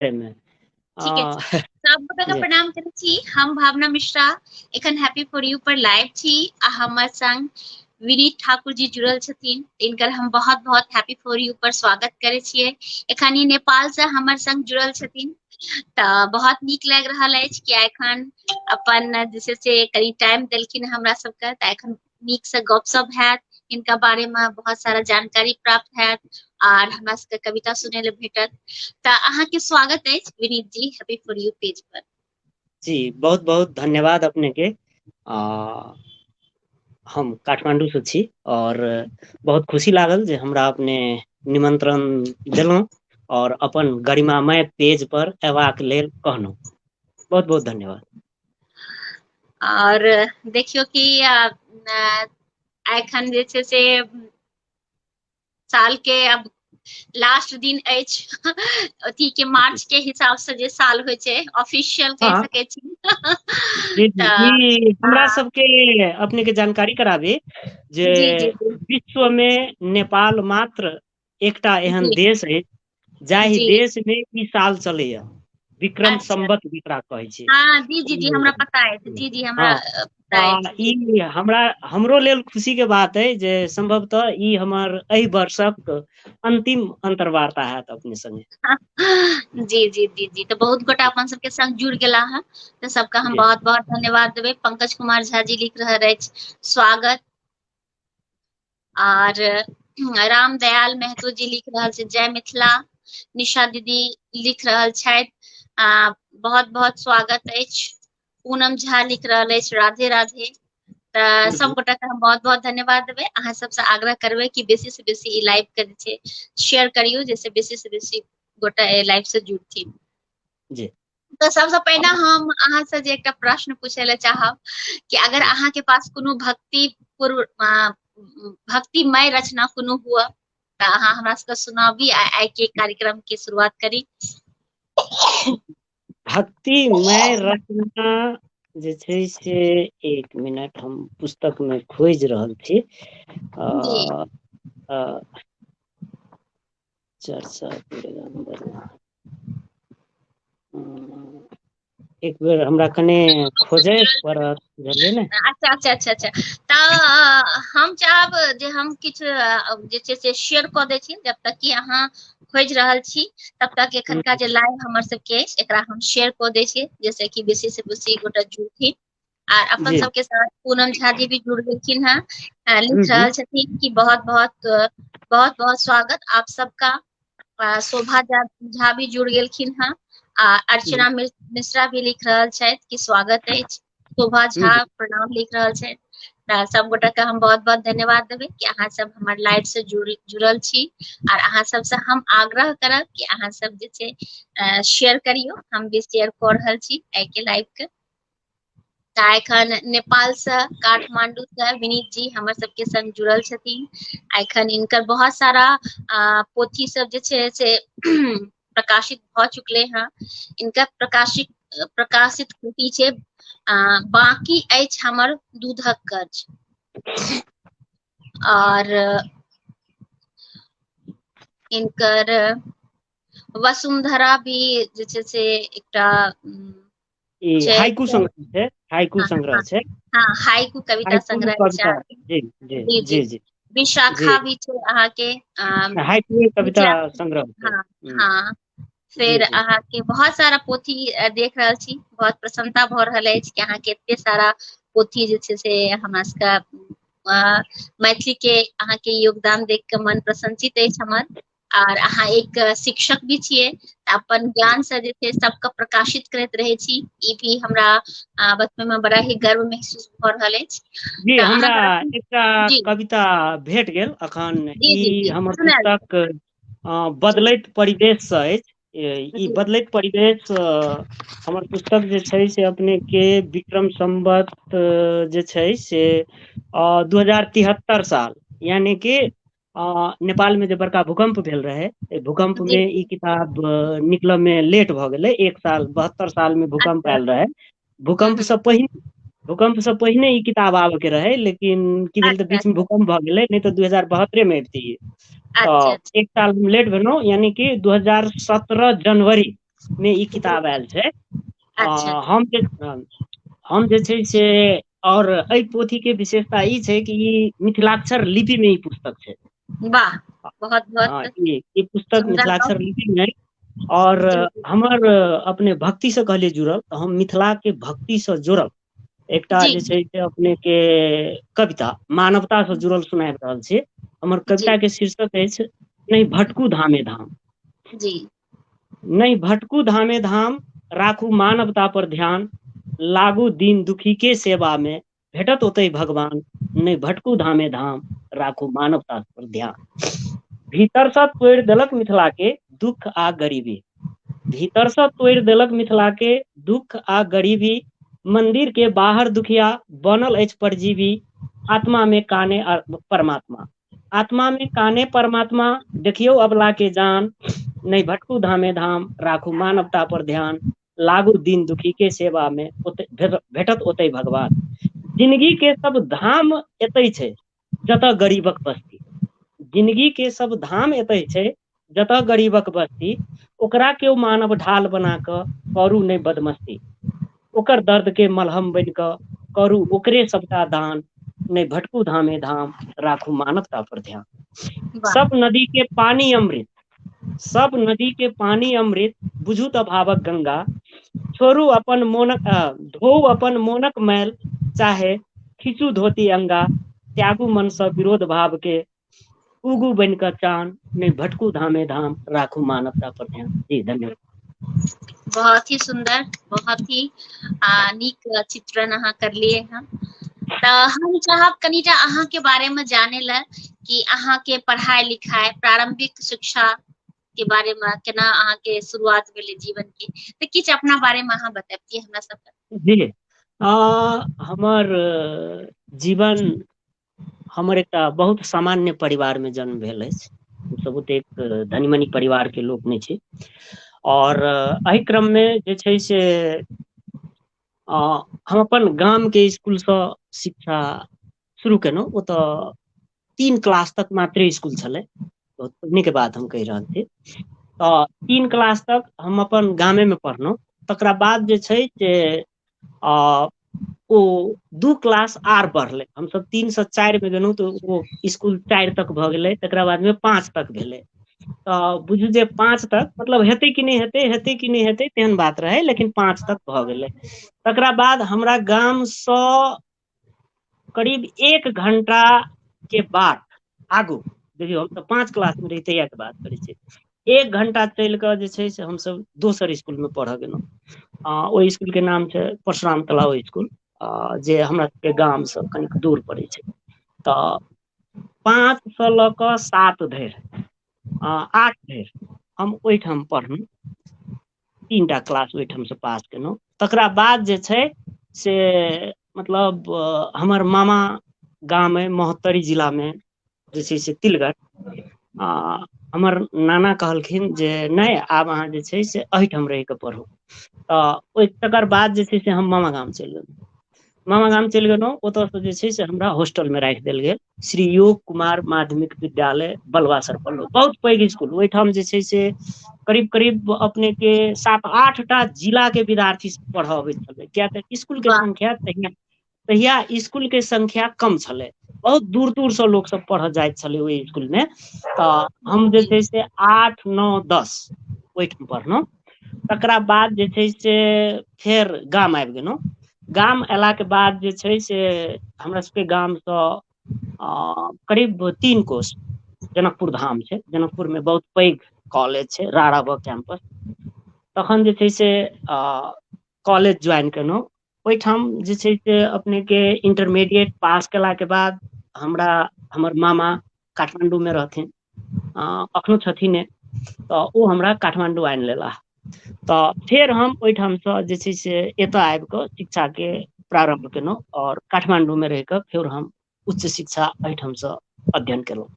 एहिमे ठीके छै हँ सब गोटा के प्रणाम करै छी हम भावना मिश्रा एखन हैप्पी फॉर यू पर लाइव छी आ हमर संग विनीत ठाकुर जी जुड़ल छथिन तिनकर हम बहुत बहुत हैप्पी फोर यू पर स्वागत करै छियै एखन ई नेपाल से हमर संग जुड़ल छथिन तऽ बहुत नीक लागि रहल अछि किया एखन अपन जे छै से कनि टाइम देलखिन हमरा सबके तऽ एखन नीकसँ गपशप हैत इनका बारेमे बहुत सारा जानकारी प्राप्त हैत आर हमरा सबके कविता सुनै लए भेटत तऽ अहाँके स्वागत अछि Vineet ji happy for you page पर जी बहुत बहुत धन्यवाद अपने के आ, हम काठमांडू से छी और बहुत खुशी लागल जे हमरा अपने निमंत्रण देलहुँ और अपन गरिमामय पेज पर एबाक लेल कहलहुँ बहुत बहुत धन्यवाद आओर देखियौ कि एखन जे छै से सालके अब लास्ट दिन अछि अथी के मार्च के हिसाब से जे साल होइ छै ऑफिशियल कह हाँ। सके छी जी, जी, जी, हमरा हाँ। सबके अपने के जानकारी कराबी जे जी जी जी विश्व मे नेपाल मात्र एकटा एहन जी देश अछि जाहि जी देश मे ई साल चलैया विक्रम अच्छा सम्बत जेकरा कहै छै हँ जी जी जी हमरा पता अछि जी जी हमरा हँ अ, पता अछि जी ई हमरा हमरो लेल खुशी के बात अइ जे सम्भवतः ई हमर एहि वर्षक अन्तिम अन्तर्वार्ता हयैत अपने संगे जी जी जी जी तऽ बहुत गोटा अपन सबके संग जुड़ गेला हे तऽ सबके हम जी बहुत बहुत धन्यवाद देबै पंकज कुमार झा जी लिख रहल अछि स्वागत आर राम दयाल महतो जी लिख रहल छै जय मिथिला निशा दीदी लिख रहल छथि आ बहुत बहुत स्वागत अछि पूनम झा लिख रहल अछि राधे राधे तऽ सब गोटा के हम बहुत बहुत धन्यवाद देबै अहाँ सबसँ आग्रह करबै कि बेसी से बेसी ई लाइव के जे छै शेयर करियौ जाहिसँ बेसी से बेसी गोटा एहि लाइव से जुड़थिन जी तऽ सबसँ पहिने हम अहाँसँ जे एकटा प्रश्न पूछय लए चाहब कि अगर अहाँके पास कोनो भक्ति पूर्व भक्तिमय रचना कोनो हुआ तऽ अहाँ हमरा सबके सुनाबी आ आइ के कार्यक्रम के शुरुआत करी भक्तिमय रचना जे छै से एक मिनट हम पुस्तक में खोजि रहल छी आ, आ, चर्चा एक बेर हमरा कनि खोजै पड़त बुझलियै ने अच्छा अच्छा अच्छा अच्छा तऽ हम चाहब जे हम किछु जे छै से शेयर कऽ दै छी जब तक कि अहाँ खोजि रहल छी तब तक एखनका जे लाइव हमर सबके अछि एकरा हम शेयर कऽ दै छियै जैसे कि बेसी से बेसी गोटा जुड़थिन आ अपन जी सबके साथ पूनम झा जी भी जुड़ गेलखिन हेँ आ जी लिख जी रहल छथिन कि बहुत बहुत बहुत बहुत स्वागत आप सबका आ, शोभा झा झा भी जुड़ गेलखिन हेँ आ अर्चना मिस- मिश्रा भी लिख रहल छथि कि स्वागत अछि शोभा झा जी। प्रणाम लिख रहल छथि तऽ सब गोटा के हम बहुत बहुत धन्यवाद देबै कि अहाँ सब हमर लाइव से जुड़ जुड़ल छी आर अहाँ सबसँ हम आग्रह करब कि अहाँ सब जे छै शेयर करियौ हम भी शेयर कऽ रहल छी एहिके लाइव के ता एखन नेपाल से काठमाण्डू से विनीत जी हमर सबके संग जुड़ल छथिन आ एखन इनकर बहुत सारा पोथी सब जे छै से प्रकाशित भऽ चुकले हैं इनका प्रकाशित प्रकाशित कृति छै बाकी अछि हमर दूधक कर्ज और इनकर वसुंधरा भी जे छै से एकटा ई छै हाइकू स छै हाइकू हँ संग्रह छै हँ हाइकू कविता हाइकू संग्रह छै कविता अहाँके जी जी जी जी जी विशाखा भी छै अहाँके अ हाइकूए कविता मिथिला संग्रह छै हँ हुँ हँ जी फेर जी अहाँके बहुत सारा पोथी देख रहल छी बहुत प्रसन्नता भऽ रहल अछि कि अहाँके एते सारा पोथी जे छै से हमरा सबके अ मैथिली के अहाँके योगदान देख के मन प्रसन्नचित अछि हमर आर अहाँ एक शिक्षक भी छियै तऽ अपन ज्ञान से जे छै सबके प्रकाशित करैत रहै छी ई भी हमरा आ, बचपन में बड़ा ही गर्व महसूस भऽ रहल अछि जी तऽ हमरा अहाँके रचना एकटा जी कविता भेट गेल अखन जी ई जी जी हमर सुनायल जाउ पुस्तक अ जी बदलैत परिवेश स अछि ई जी बदलैत परिवेश स हमर पुस्तक जे छै से अपने के विक्रम सम्बत जे छै से अ दू हजार तिहत्तर साल यानि कि नेपाल मे जे बड़का भूकम्प भेल रहै एहि भूकम्प जी मे ई किताब निकलऽ मे लेट भऽ गेलै एक साल बहत्तर साल मे भूकम्प अच्छा आयल रहै हूँ भूकम्प हूँ से पहिने भूकम्प से पहिने ई किताब आबय के रहै लेकिन की भेल तऽ अच्छा बीच मे भूकम्प भऽ गेलै नहि तऽ दू हजार बहत्तरे मे अबतियै अच्छा अच्छा तऽ एक साल लेट भेलहुँ यानि कि दू हजार सत्रह जनवरी मे ई किताब आयल छै आ अच्छा हम जे हम जे छै से आओर एहि पोथी के विशेषता ई छै कि ई मिथिलाक्षर लिपि मे ई पुस्तक छै वाह बहुत बहुत हँ ई ई पुस्तक सुन्दर मिथिलाक्षर गप लिपी मे आओर जी जी हमर अपने भक्ति से कहलियै जुड़ल तऽ हम मिथिला के भक्ति से जोड़ब एकटा जी जे छै से अपने के कविता मानवता से जुड़ल सुनाय रहल छी हमर जी कविता के शीर्षक अछि नहि भटकू धामे धाम जी नहि भटकू धामे धाम राखू मानवता पर ध्यान लागू दीन दुखी के सेवा मे भेटत ओतै भगवान नहि भटकू धामे धाम राखू मानवता पर ध्यान भीतर सँ तोड़ि देलक मिथिला के दुःख आ गरीबी भीतर सँ तोड़ि देलक मिथिला के दुःख आ गरीबी मंन्दिर के बाहर दुखिया बनल अछि परजीवी आत्मा मे काने परमात्मा आत्मा मे काने परमात्मा देखियौ अबला के जान नहि भटकू धामे धाम राखू मानवता पर ध्यान लागू दीन दुखी के सेवा मे ओत भेटत ओतै भगवान जिनगी के सब धाम एतै छै जतऽ गरीबक बस्ती जिनगी के सब धाम एतै छै जतय गरीबक बस्ती ओकरा केओ मानव ढाल बना कऽ करू नहि बदमस्ती ओकर दर्द के मलहम बन कऽ करू ओकरे सबटा दान नहि भटकू धामे धाम राखू मानवता पर ध्यान वाह सब नदी के पानी अमृत सब नदी के पानी अमृत बुझू तऽ भावक गंगा छोड़ू अपन मोनक धोउ अपन मोनक मैल चाहे खीचू धोती अंगा त्यागू मनसँ विरोध भाव के उगू बनि कऽ चान नहि भटकू धामे धाम राखू मानवता पर ध्यान जी धन्यवाद बहुत ही सुन्दर बहुत ही आ नीक चित्रण अहाँ करलियै हँ तऽ हम चाहब कनिटा अहाँके बारेमे जानय लए कि अहाँके पढ़ाइ लिखाइ प्रारम्भिक शिक्षा के बारे मे केना अहाँ के शुरुआत भेलै जीवन के तऽ किछु अपना बारे मे अहाँ बताबितिय हमरा सबके जी आ हमर जीवन हमर एकटा बहुत सामान्य परिवार मे जन्म भेल अछि हमसभ ओतेक धनी मनी परिवार के लोक नहि छी आओर एहि क्रममे जे छै से अ हम अपन गाम के स्कुल सँ शिक्षा शुरू केलहुँ ओतऽ तीन क्लास तक मात्रे स्कुल छलै बहुत पुन्य के बात हम कहि रहल छी तऽ तीन क्लास तक हम अपन गामे मे पढ़लहुँ तकरा बाद जे छै से आ ओ दू क्लास आर बढ़लै हमसभ तीन सँ चारि मे गेलहुँ तऽ ओ स्कुल चारि तक भऽ गेलै तकरा बाद मे पाँच तक भेलै तऽ बुझू जे पाँच तक मतलब हेतै कि नहि हेतै हेतै कि नहि हेतै तेहन बात रहै लेकिन पाँच तक भऽ गेलै तकरा बाद हमरा गामसँ करीब एक घण्टा के बाद आगू देखियौ हम तऽ पाँच क्लास मे रहियै तहिया के बात करै छी एक घण्टा चलि कऽ जे छै से हमसभ दोसर स्कुल मे पढ़य गेलौं आ ओहि स्कुल के नाम छै परशुराम कला ओइ स्कुल आ जे हमरा सबके गाम स कनिक दूर पड़ै छै तऽ पाँच स लऽ कऽ सात धरि आ आठ धरि हम ओहिठाम पढ़लौं तीन टा क्लास ओहिठामसँ पास केलहुँ तकरा बाद जे छै से मतलब हमर मामा गाम अइ महोत्तरी जिलामे जे छै से तिलगर आ हमर नाना कहलखिन जे नहि आब अहाँ जे छै से एहिठाम रहि कऽ पढ़ू तऽ ओहि तकर बाद जे छै से हम मामा गाम चलि गेलहुँ मामा गाम चलि गेलहुँ ओतयसँ जे छै से हमरा हॉस्टल मे राखि देल गेल श्री योग कुमार माध्यमिक विद्यालय बलवासर पलो बहुत पैघ स्कुल ओहिठाम जे छै से करीब करीब अपने के सात आठ टा जिला के विद्यार्थी सब पढ़ऽ अबै छलै किया तऽ स्कुल के वाह संख्या तहिया तहिया स्कुल के संख्या कम छलै बहुत दूर दूर स लोक सब पढ़य जाइत छलै ओहि स्कुल मे तऽ हम जे जी छै से आठ नौ दस ओहिठाम पढ़लौं तकरा बाद जे छै से फेर गाम आबि गेलौं गाम एयलाके बाद जे छै से हमरा सभके गामसँ अ करीब तीन कोश जनकपुर धाम छै जनकपुर मे बहुत पैघ कॉलेज छै रारा भ कैम्पस तखन जे छै से अ कॉलेज ज्वाइन केलौं ओहिठाम जे छै से अपनेके इंटरमीडिएट पास कयलाके बाद हमरा हमर मामा काठमाण्डूमे रहथिन आ एखनहु छथिन ने तऽ ओ हमरा काठमाण्डू आनि लेलाह तऽ फेर हम ओहिठामसँ जे छै से एतय आबि कऽ शिक्षाके प्रारम्भ केलहुँ आओर काठमाण्डूमे रहि कऽ फेर हम उच्च शिक्षा एहिठामसँ अध्ययन केलहुँ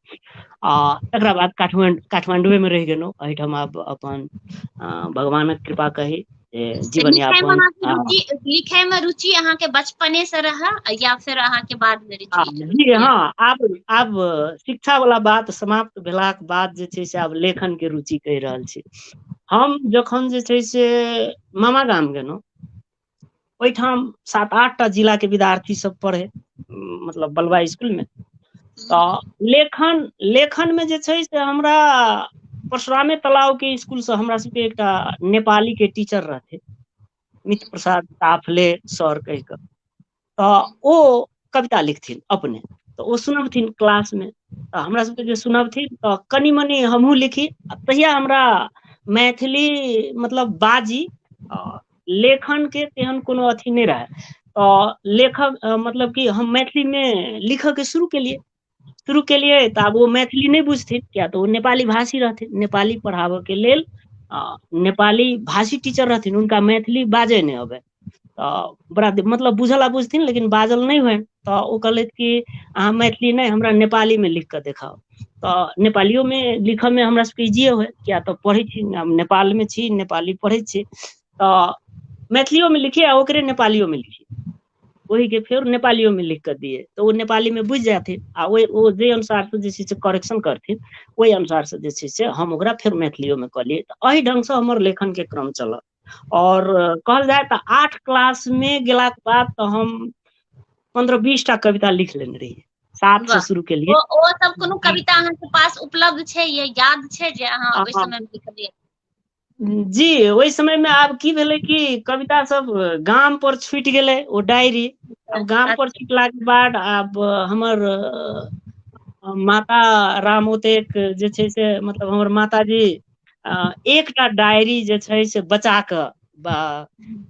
आ एकरा बाद काठमाणडू काठमाण्डुए मे रहि गेलहुँ एहिठाम आब अपन भगवानक कृपा कही जे तऽ जीवन लिखय मे यापन अहाँके आ रुचि लिखय मे रुचि अहाँके बचपने से रहै या फेर अहाँके बाद मे आ रुचि जी रुचि हँ आयल आब आब शिक्षा वाला बात समाप्त भेलाक के बाद जे छै से आब लेखन के रुचि कहि रहल छी हम जखन जे छै से मामा गाम गेलहुँ ओहिठाम सात आठ टा जिला के विद्यार्थी सब पढ़े मतलब बलुआ स्कुल मे तऽ लेखन लेखन मे जे छै से हमरा परशुरामे तलाव के स्कुल सँ हमरा सबके एकटा नेपाली के टीचर रहथि मित्र प्रसाद साफले सर कहि कऽ तऽ ओ कविता लिखथिन अपने तऽ ओ सुनबथिन क्लास मे तऽ हमरा सबके जे सुनबथिन तऽ कनि मनि हमहूँ लिखी आ तहिया हमरा मैथिली मतलब बाजी आ लेखन के तेहन कोनो अथी नहि रहय तऽ लेखक मतलब कि हम मैथिलीमे लिखयके शुरू केलियै शुरू केलियै तऽ आब ओ मैथिली नहि बुझथिन किया तऽ ओ नेपाली भाषी रहथिन नेपाली पढ़ाबयके लेल आ नेपाली भाषी टीचर रहथिन हुनका मैथिली बाजय नहि अबै तऽ बड़ा मतलब बुझल आ बुझथिन लेकिन बाजल नहि होनि तऽ ओ कहलथि कि अहाँ मैथिली नहि हमरा नेपाली मे लिख कऽ देखाउ तऽ नेपालियो मे लिखऽ मे हमरा सबके इजिए होय किया तऽ पढ़ै छी नेपाल मे छी नेपाली पढ़ै छी तऽ मैथिलियो मे लिखियै आ ओकरे नेपालियो मे लिखियै ओहि के फेर नेपालियो मे लिख कऽ दियै तऽ ओ नेपाली मे बुझि जाथिन आ ओहि ओ जे अनुसार से जे छै से करेक्शन करथिन ओहि अनुसार से जे छै से हम ओकरा फेर मैथिलियो मे कऽ लियै तऽ एहि ढंग सँ हमर लेखन के क्रम चलल आओर कहल जाय तऽ आठ क्लास मे गेला के बाद तऽ हम पन्द्रह बीस टा कविता लिख लेने रहियै सात से वाह शुरू केलियै ओ ओ सब कोनो कविता अहाँके पास उपलब्ध छै या याद छै जे अहाँ आ ओहि आ समय मे लिखलियै जी ओहि समय मे आब की भेलै कि कविता सब गाम पर छुटि गेलै ओ डायरी आब गाम पर छुटला के बाद आब हमर माता राम ओतेक जे छै से मतलब हमर माताजी अ एकटा डायरी जे छै से बचा कऽ बा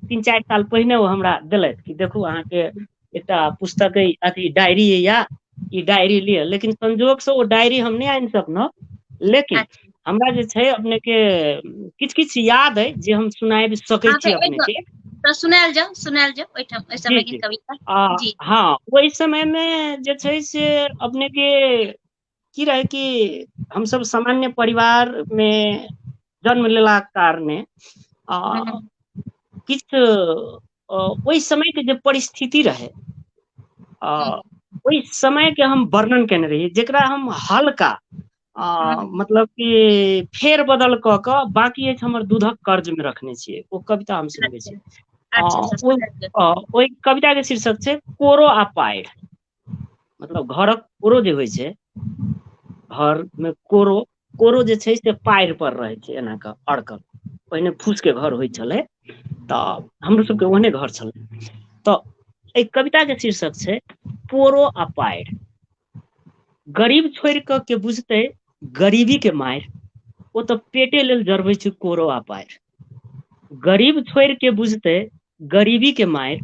तीन चारि साल पहिने ओ हमरा देलथि कि देखू अहाँके एकटा पुस्तक अइ अथी डायरी अइ या ई डायरी लिअ लेकिन संजोग से ओ डायरी हम नहि आनि सकलहुँ लेकिन अच्छा हमरा जे छै अपने के किछ किछ याद अइ जे हम सुनाबि सकै हँ छी तऽ अपने एहिठाम के तऽ सुनायल जाउ सुनायल जाउ ओहिठाम ओहि जी समय के जी कविता आ जी हँ ओहि समय मे जे छै से अपने के की रहै कि हमसभ सामान्य परिवार मे जन्म लेलाक कारणे आ हँ किछ ओहि समयके जे परिस्थिति रहै आ हँ ओहि समय के हम वर्णन केने रहियै जेकरा हम हल्का आ हँ मतलब ई फेर बदल कऽ कऽ बाकी अछि हमर दूधक कर्ज मे रखने छियै ओ कविता हम सुनबै अच्छा छी आ अच्छा अच्छा ओ समझ गेल ओहि कविता के शीर्षक छै कोरो आ पाइ मतलब घरक कोरो जे होइ छै घर मे कोरो कोरो जे छै से पाएड़ पर रहै छै एना कऽ अड़कल पहिने फूस केँ घर होइ छलै तऽ हमरो सब केँ ओहने घर छलै तऽ एहि कविता केँ शीर्षक छै पोरो आ पाइर गरीब छोड़ कऽ केँ बुझते गरीबी केँ माइर ओ तऽ पेटे लेल जरबे छै कोरो आ पाइर गरीब छोड़ केँ बुझते गरीबी केँ माइर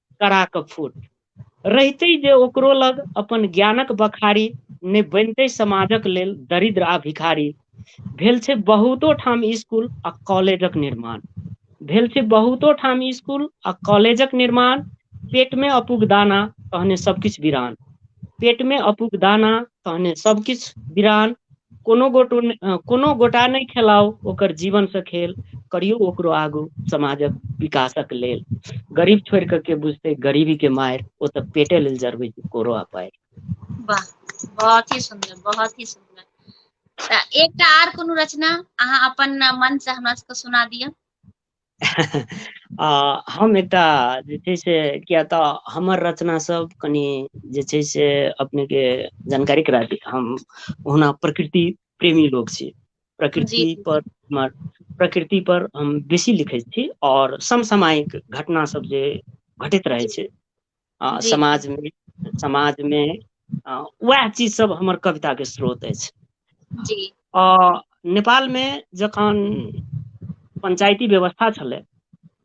करा कऽ फूट रहितै जे ओकरो लग अपन ज्ञानक बखारी नहि बनितै समाजक लेल दरिद्र आ भिखारी भेल छै बहुतो ठाम स्कूल आ कॉलेजक निर्माण भेल छै बहुतो ठाम स्कूल आ कॉलेजक निर्माण पेटमे अपूग दाना तहने सभकिछु विरान पेटमे अपूग दाना तहने सभकिछु विरान कोनो गोटो ने अ कोनो गोटा नहि खेलाउ ओकर जीवन सँ खेल करियौ ओकरो आगू समाजक विकासक लेल गरीब छोड़ि कऽ के बुझतै गरीबी के मारि ओ तऽ पेटे लेल जरबै छै कोरो आ पारि वाह बहुत ही सुन्दर बहुत ही सुन्दर तऽ एकटा आर कोनो रचना अहाँ अपन मन सँ हमरा सबके सुना दिअ आ हम एकटा जे छै से किए तऽ हमर रचना सब कनि जे छै से अपने के जानकारी करा दी हम ओना प्रकृति प्रेमी लोक छी जी प्रकृति पर हमर प्रकृति पर हम बेसी लिखै छी आओर समसामयिक घटना सब जे घटैत रहै जी छै आ जी समाज मे समाज मे आ उएह चीज सब हमर कविता के स्रोत अछि जी अ नेपाल मे जखन पंचायती व्यवस्था छलै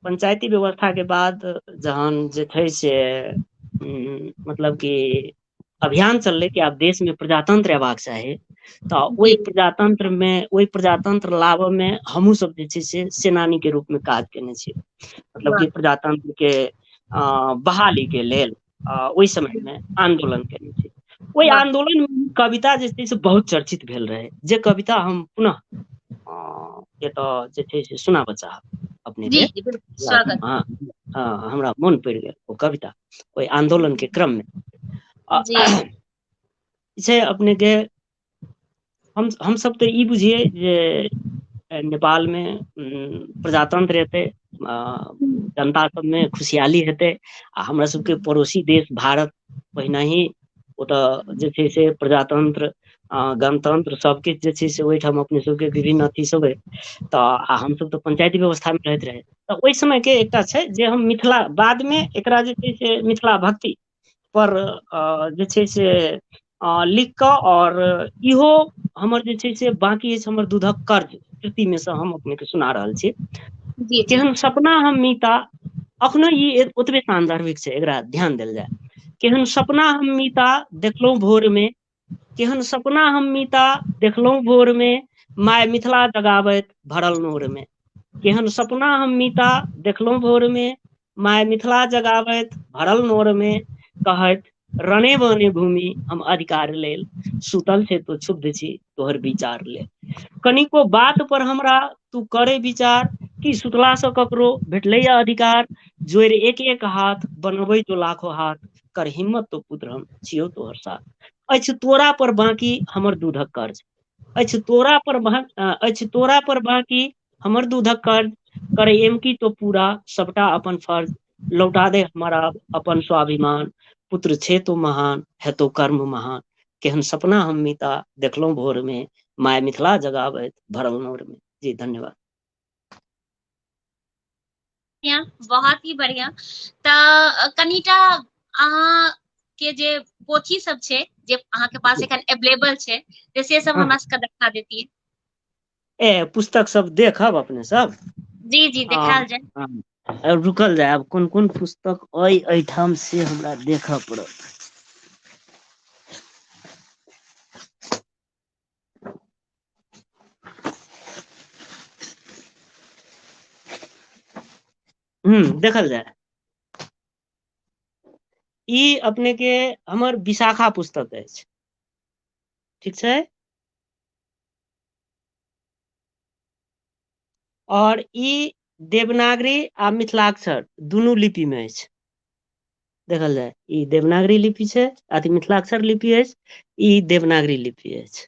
पंचायती व्यवस्था के बाद जहन जे छै से हूँ मतलब की अभियान चललै कि आब देश मे प्रजातंत्र अयबाक चाही तऽ ओहि जी प्रजातंत्र मे ओहि प्रजातंत्र लाबऽ मे हमहुँ सब जे छै से सेनानी के रूप मे काज केने छी मतलब वाह कि प्रजातंत्र के अ बहाली के लेल आ ओहि समय मे आन्दोलन केने छी ओहि वाह आन्दोलन मे कविता जे छै से बहुत चर्चित भेल रहै जे कविता हम पुनः हँ एतऽ जे छै से सुनाबऽ चाहब अपने जी के जी बिल्कुल स्वागत हँ हमरा मोन पड़ि गेल ओ कविता ओहि आन्दोलन के क्रम मे आ जी छै अपने के हम हम सब तऽ ई बुझियै जे नेपाल मे प्रजातंत्र एतै आ जनता सब मे खुशहाली हेतै आ हमरा सब के पड़ोसी देश भारत ओहिना ही ओतऽ जे छै से प्रजातंत्र अ गणतंत्र सब किछ जे छै से ओहिठाम अपने सब के विभिन्न अथी सब ऐ तऽ आ हम सभ तऽ पंचायती व्यवस्था मे रहैत रहै तऽ ओहि समय के एकटा छै जे हम मिथिला बाद मे एकरा जे छै से मिथिला भक्ति पर अ जे छै से अ लिख कऽ आओर इहो हमर जे छै से बकी अछि हमर दूधक कर्ज कृति मे से हम अपने के सुना रहल छी जी जी केहन सपना हम मीता अखनो ई ओतबे सानदर्भिक छै एकरा ध्यान देल जाय केहन सपना हम मीता देखलहुँ भोर मे केहन सपना हम मीता देखलहुँ भोर मे माय मिथिला जगावैत भरल नोर मे केहन सपना हम मीता देखलहुँ भोर मे माय मिथिला जगावैत भरल नोर मे कहैत रणे बने भूमि हम अधिकार लेल सुतल छै तो छुद्ध छी तोहर विचार ले कनिको बात पर हमरा तू करे विचार की सुतला सँ ककरो भेटलैया अधिकार जोड़ि एक एक हाथ बनबै जो लाखो हाथ कर हिम्मत तो पुत्र हम छियौ तोहर साथ अछि तोरा पर बाँकी हमर दूधक कर्ज अछि तोरा पर अछि तोरा पर बाँकी हमर दूधक कर्ज कर एम की तो पूरा सबटा अपन फर्ज लौटा दे हमारा अपन स्वाभिमान पुत्र छे तो महान है तो कर्म महान केहन सपना हम मिता देखलहुँ भोर में माय मिथिला जगाबैत भरल नोर में जी धन्यवाद बढ़िया बहुत ही बढ़िया तऽ कनिटा अहाँ के जे पोथी सब छै जे अहाँ के पास एखन अवेलेबल छै तऽ से सब हँ। हमरा सबके देखा देतियै ए पुस्तक सब देखब अपने सब जी जी देखायल जाय आ रुकल जाय आब कोन कोन पुस्तक अइ एहिठाम से हमरा देखय पड़त हूं देखल जाय ई अपने के हमर विशाखा पुस्तक अछि ठीक छै आओर ई देवनागरी आ मिथिलाक्षर दुनू लिपि मे अछि देखल जाय ई देवनागरी लिपि छै अथी मिथिलाक्षर लिपि अछि ई देवनागरी लिपि अछि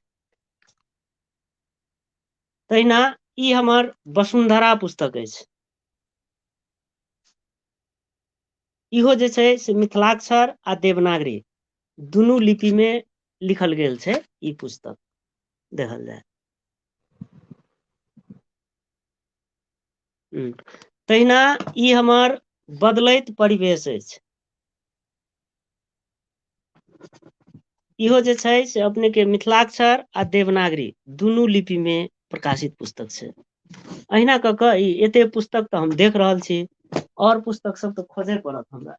तहिना ई हमर वसुंधरा पुस्तक अछि इहो जे छै से मिथिलाक्षर आ देवनागरी दुनू लिपि मे लिखल गेल छै ई पुस्तक देखल जाय हु तहिना ई हमर बदलैत परिवेश अछि इहो जे छै से अपने के मिथिलाक्षर आ देवनागरी दुनू लिपि मे प्रकाशित पुस्तक छै अहिना कऽ कऽ ई एते पुस्तक तऽ हम देख रहल छी आओर पुस्तक सब तऽ खोजय पड़त हमरा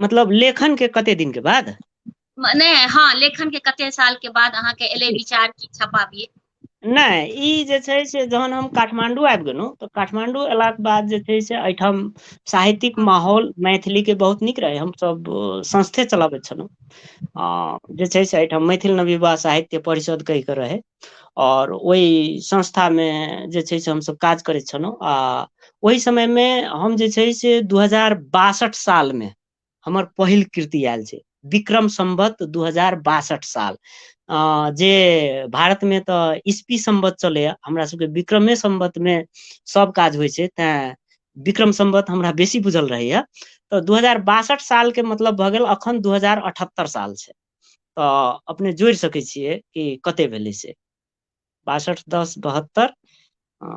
मतलब लेखन के कते दिन के बाद नहि हँ लेखन के कते साल के बाद अहाँके एलै विचार की छपाबियै नहि ई जे छै से जहन हम काठमाण्डू आबि गेलहुँ तऽ काठमाण्डू अयलाके बाद जे छै से एहिठाम साहित्यिक हँ माहौल मैथिली के बहुत नीक रहै हमसभ संस्थे चलाबैत छलहुँ आ जे छै से एहिठाम मैथिल नवयुवा साहित्य परिषद कहि कऽ रहै आओर ओहि संस्थामे जे छै से हमसभ काज करैत छलहुँ आ ओहि समय मे हम जे छै से दू हजार बासठ साल मे हमर पहिल कृति आयल छै विक्रम सम्भत दू हजार बासठ साल अ जे भारत मे तऽ इसपी सम्बत चलैया हमरा सबके विक्रमे सम्बत मे सब काज होइ छै तैं विक्रम सम्वत हमरा बेसी बुझल रहैया तऽ दू हजार बासठ साल के मतलब भऽ गेल अखन दू हजार अठहत्तर साल छै तऽ अपने जोड़ि सकैत छियै कि कते भेलै से बासठ दस बहत्तर आ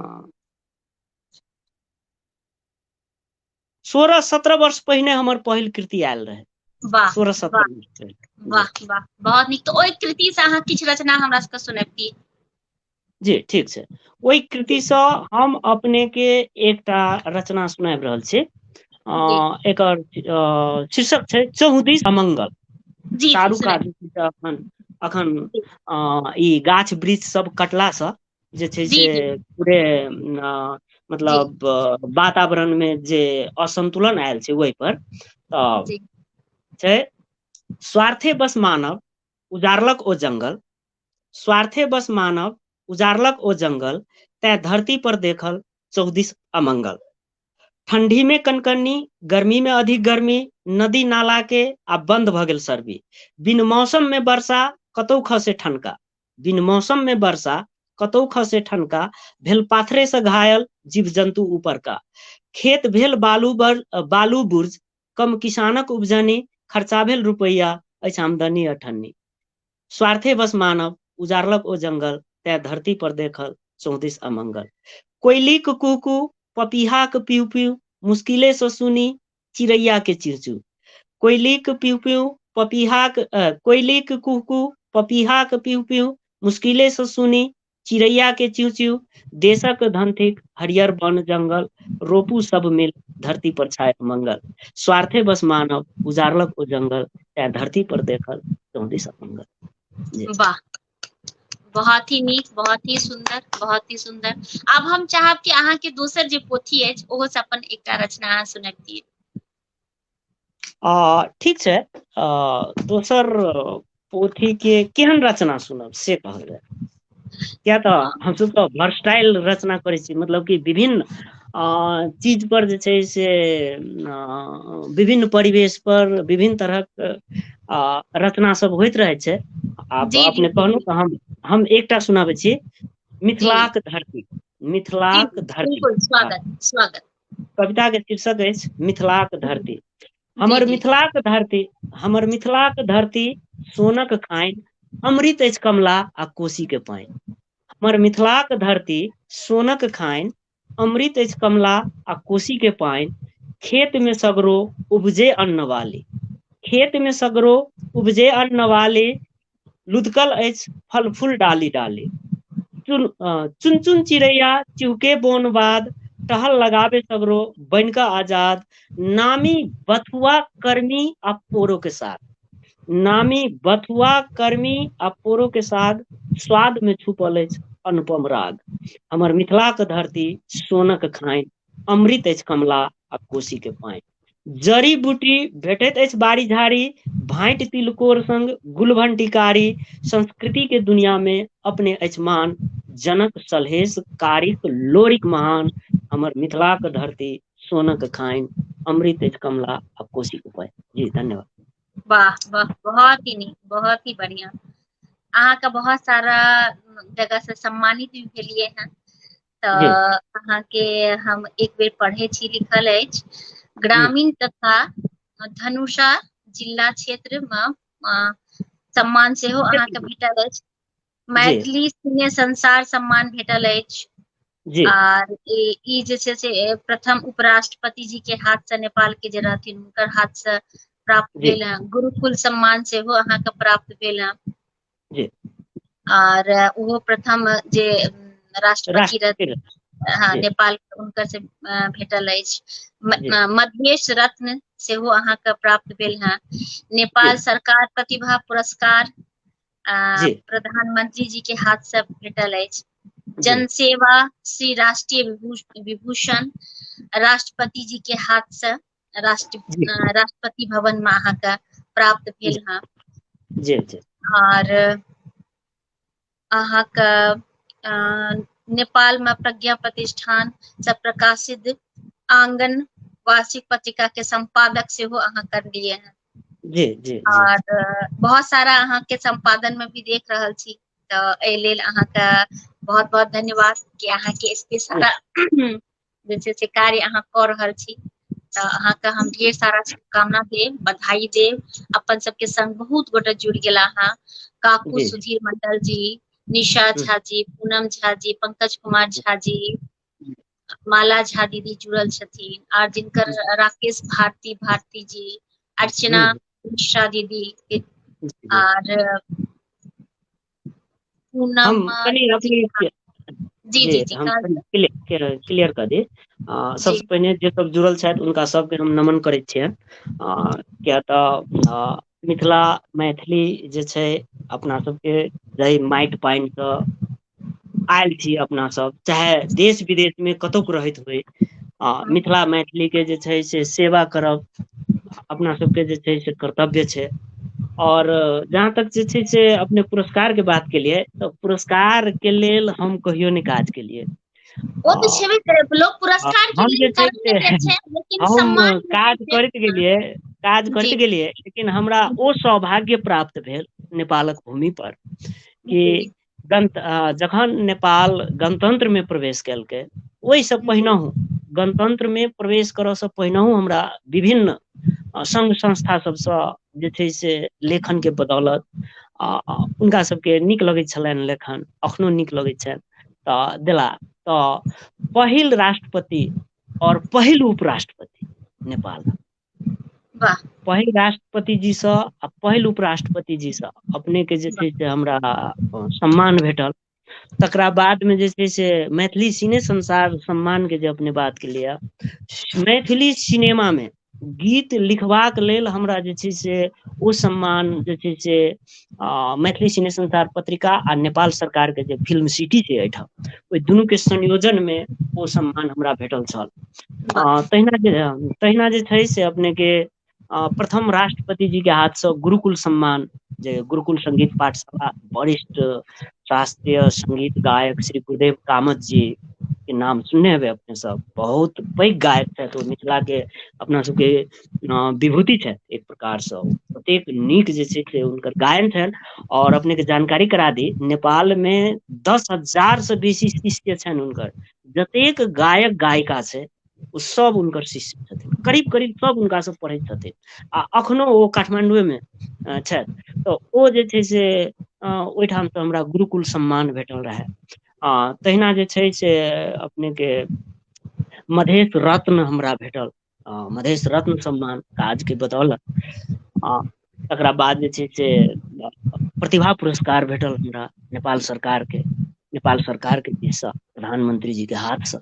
सोलह सत्रह वर्ष पहिने हमर पहिल कृति आयल रहै वाह सोलह वाह सत्रह वर्ष वाह वाह बहुत नीक तऽ ओहि कृति से अहाँ किछु रचना हमरा सबके सुनबितियै जी ठीक छै ओहि कृति सँ हम अपने के एकटा रचना सुनाबि रहल छी अ जी एकर अ शीर्षक छै चहुदिस अमंगल जी जी चारू सुनाइ कात अखन अखन जी अ ई गाछ वृक्ष सब कटला सँ जे छै से जी जी पूरे अ जी मतलब वातावरण मे जे असन्तुलन आयल छै ओहि पर तऽ जी छै स्वार्थे बस मानव उजारलक ओ जंगल स्वार्थे बस मानव उजारलक ओ जंगल तय धरती पर देखल चौदिस अमंगल ठंडी में कनकनी गर्मी में अधिक गर्मी नदी नाला के आ बंद भ गेल सर्वी बिन मौसम में वर्षा कतौ खसे ठनका बिन मौसम में वर्षा कतौ खसे ठनका भेल पाथरे से घायल जीव जंतु ऊपर का खेत भेल बालू बर बालू बुर्ज कम किसानक उपजनी खर्चा भेल रुपैया अछि आमदनी अठन्नी स्वार्थे बस मानव उजारलक ओ जंगल तै धरती पर देखल चौदिस अमंगल कोयलीक कुहकू पपीहाक पिउ पिउ मुश्किले से सुनी चिड़ैया के चिड़चू कोयलीक पिउ पिउ पपीहाक कोयलीक कुहकू पपीहाक पिउ पिउ मुश्किले से सुनी चिड़ैया के चिव चिव देशक धन थिक हरियर बन जंगल रोपू सब मिल धरती पर छाय मंगल स्वार्थे बस मानव उजारलक ओ जंगल तैं धरती पर देखल चौदिस मंगल वाह बहुत ही नीक बहुत ही सुंदर बहुत ही सुंदर अब हम चाहब कि अहाँ के दोसर जे पोथी अछि ओहो से अपन एकटा रचना अहाँ सुनबितियै आ ठीक छै आ दोसर पोथी के केहन रचना सुनब से कहल जाय किया तऽ हमसभ तऽ भर्सटाइल रचना करै छी मतलब कि विभिन्न आ चीज पर जे छै से आ विभिन्न परिवेश पर विभिन्न तरहक आ रचना सब होइत रहै छै आब जी जी अपने जी कहलहुँ तऽ हम हम एकटा सुनाबै छी जी मिथिलाक धरती जी मिथिलाक धरती बिलकुल हँ स्वागत स्वागत कविता के शीर्षक अछि मिथिलाक धरती जी हमर जी मिथिलाक धरती हमर मिथिलाक धरती सोनक खान अमृत अछि कमला आ कोशी के पानि हमर मिथिलाक धरती सोनक खान अमृत अछि कमला आ कोशी के पानि खेत मे सगरो उपजे अन्न वाली खेत मे सगरो उपजे अन्न वाली लुधकल अछि फल फूल डाली डाली चुन अ चुन चुन चिड़ैया चुके बोन बाद टहल लगाबे सगरो बैन कऽ आजाद नामी बथुआ कर्मी आ पोरो के साथ नामी बथुआ कर्मी आ पोरो के साग स्वाद मे छुपल अछि अनुपम राग हमर मिथिलाक धरती सोनक खाय अमृत अछि कमला आ कोशी के पानि जड़ी बूटी भेटैत अछि बाड़ी झाड़ी भाटि तिलकोर संग गुलभंटीकारी संस्कृति के दुनिया मे अपने अछि मान जनक सलहेश कारिक लोरिक महान हमर मिथिलाक धरती सोनक खानि अमृत अछि कमला आ कोशी क पानि जी धन्यवाद वाह वाह बहुत ही नीक बहुत ही बढ़िया अहाँके बहुत सारा जगह से सम्मानित भी भेलियै हेँ तऽ जी अहाँके हम एक बेर पढ़ै छी लिखल अछि जी ग्रामीण तथा धनुषा जिला क्षेत्र मे अ सम्मान सेहो अहाँके भेटल अछि जी मैथिली सिने संसार सम्मान भेटल अछि जी आर ई ई जे छै से प्रथम उप राष्ट्रपति जी के हाथ से नेपाल के जे रहथिन हुनकर हाथ से प्राप्त जी भेल ह गुरुकुल सम्मान सेहो अहाँके प्राप्त भेल ह जी आर ओहो प्रथम जे राष्ट्रपति राष्ट्रपति रहथिन रहथिन। हँ जी नेपाल हुनकर से भेटल अछि जी मध्येश रत्न सेहो अहाँके प्राप्त भेल हेँ जी नेपाल सरकार प्रतिभा पुरस्कार आ जी प्रधानमंत्री जी के हाथ से भेटल अछि जी जन सेवा श्री राष्ट्रीय विभूषण राष्ट्रपति जी के हाथसँ राष्ट्र जी राष्ट्रपति भवन मे अहाँके प्राप्त भेल हँ जी जी आर अहाँके अ नेपालमे प्रज्ञा प्रतिष्ठान स प्रकाशित आङगन वार्षिक पत्रिका के सम्पादक सेहो अहाँ करलियै ह जी जी जी आर बहुत सारा अहाँके सम्पादन मे भी देख रहल छी तऽ एहि लेल अहाँके बहुत बहुत धन्यवाद कि अहाँके एते सारा जे छै से कार्य अहाँ कऽ रहल छी तऽ अहाँके हम ढेर सारा शुभकामना देब बधाई देब अपन सबके संग बहुत गोटा जुड़ गेला अहाँ काकू जी सुधीर मंडल जी निशा हम्म, झा जी पूनम झा जी पंकज कुमार झा जी माला झा दीदी जुड़ल छथिन आर जिनकर हम्म, राकेश भारती भारती जी अर्चना हम्म, मिश्रा दीदी जी जी आर हम पूनमक कनि अथी रचना के जी जी जी हम कह कनि क्लि के क्लियर कऽ दी अ जी सबसे पहिने जे सब जुड़ल छथि हुनका सबके हम नमन करै छियनि आ किया तऽ अ मिथिला मैथिली जे छै अपना सबके जाहि माटि पानि स आयल छी अपना सब चाहे देश विदेश मे कतोक रहैत होइ आ हँ मिथिला मैथिलीे के जे छै से सेवा करब अपना सबके जे छै से कर्तव्य छै आओर जहाँ तक जे छै से अपने पुरस्कार के बात केलियै तऽ पुरस्कार के लेल हम कहियो नहि काज केलियै ओ तऽ आओर छेबे करै लोक आ पुरस्कार के हम लेल जे छै करबे से करै छै लेकिन हम सम्मान नहि दै काज छै करैत गेलियै काज जी करैत गेलियै लेकिन हमरा ओ सौभाग्य प्राप्त भेल नेपालक भूमि पर कि जी गण जखन नेपाल गणतन्त्रमे प्रवेश केलकै ओहिसँ पहिनहु गणतन्त्र मे प्रवेश करय से पहिनहु हमरा विभिन्न संघ संस्था सभसँ जे छै से लेखन के बदौलत आ हुनका सभके नीक लगै छलनि लेखन एखनो नीक लगै छनि तऽ देला तऽ पहिल राष्ट्रपति आओर पहिल उपराष्ट्रपति नेपाल वाह पहिल राष्ट्रपति जी सँ आ पहिल उप राष्ट्रपति जी सँ अपने के जे छै से हमरा सम्मान भेटल तकरा बाद मे जे छै से मैथिली सिने संसार सम्मान के जे अपने बात के लिय मैथिली सिनेमा मे गीत लिखबाक लेल हमरा जे छै से ओ सम्मान जे छै से आ मैथिली सिने संसार पत्रिका आ नेपाल सरकार के जे फिल्म सिटी छै एहिठाम ओहि दुनू के संयोजन मे ओ सम्मान हमरा भेटल छल वाह आ तहिना जे तहिना जे छै से अपने के अ प्रथम राष्ट्रपति जी के हाथ सँ गुरुकुल सम्मान जे गुरुकुल संगीत पाठशाला वरिष्ठ शास्त्रीय संगीत गायक श्री गुरुदेव कामत जी के नाम सुनने हेबै अपने सब बहुत पैघ गायक छथि ओ मिथिला के अपना सबके अ विभूति छै एक प्रकार सँ ओतेक नीक जे छै से हुनकर गायन छनि आओर अपने के जानकारी करा दी नेपाल मे दस हजार से बेसी शिष्य छनि हुनकर जतेक गायक गायिका छै ओ सब हुनकर शिष्य छथिन करीब करीब सब हुनका सँ पढ़ै छथिन आ अखनो ओ काठमाण्डुए मे छथि तऽ ओ जे छै से अ ओहिठाम सँ हमरा गुरुकुल सम्मान भेटल रहय आ तहिना जे छै से अपने के मधेश रत्न हमरा भेटल अ मधेश रत्न सम्मान काज के बतौलक आ तकरा बाद जे छै से प्रतिभा पुरस्कार भेटल हमरा नेपाल सरकार के नेपाल सरकार के दिस सँ प्रधानमंत्री जी के हाथ सँ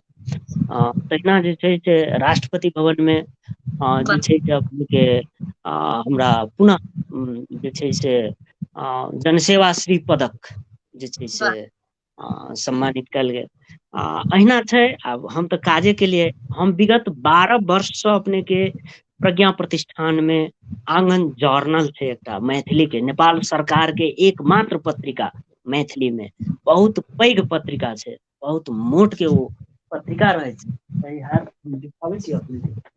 अ तहिना जे छै से राष्ट्रपति भवन मे अ जे छै से अपने के अ हमरा पुनः जे छै से अ जनसेवा श्री पदक जे छै से आ सम्मानित कयल गेल आ अहिना छै आब हम तऽ काजे केलियै हम विगत बारह वर्षसँ अपनेके प्रज्ञा प्रतिष्ठान मे आङन जर्नल छै एकटा मैथिली के नेपाल सरकार के एक मात्र पत्रिका मैथिली मे बहुत पैघ पत्रिका छै बहुत मोट के ओ पत्रिका रहै छै सही हाल देखाबै छी अपने के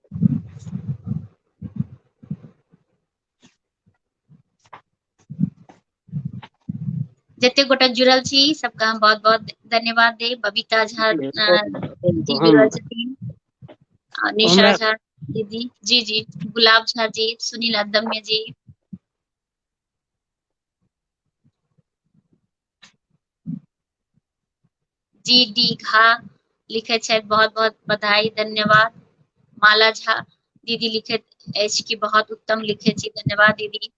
जतेक गोटा जुड़ल छी सबके हम बहुत बहुत धन्यवाद देब बबीता झा जी जुड़ल हम छथिन आ निशा हमरा झा दीदी जी जी गुलाब झा जी सुनील अदम्य जी जी डी झा लिखे छथि बहुत बहुत बधाई धन्यवाद माला झा दीदी लिखे अछि कि बहुत उत्तम लिखे छी धन्यवाद दीदी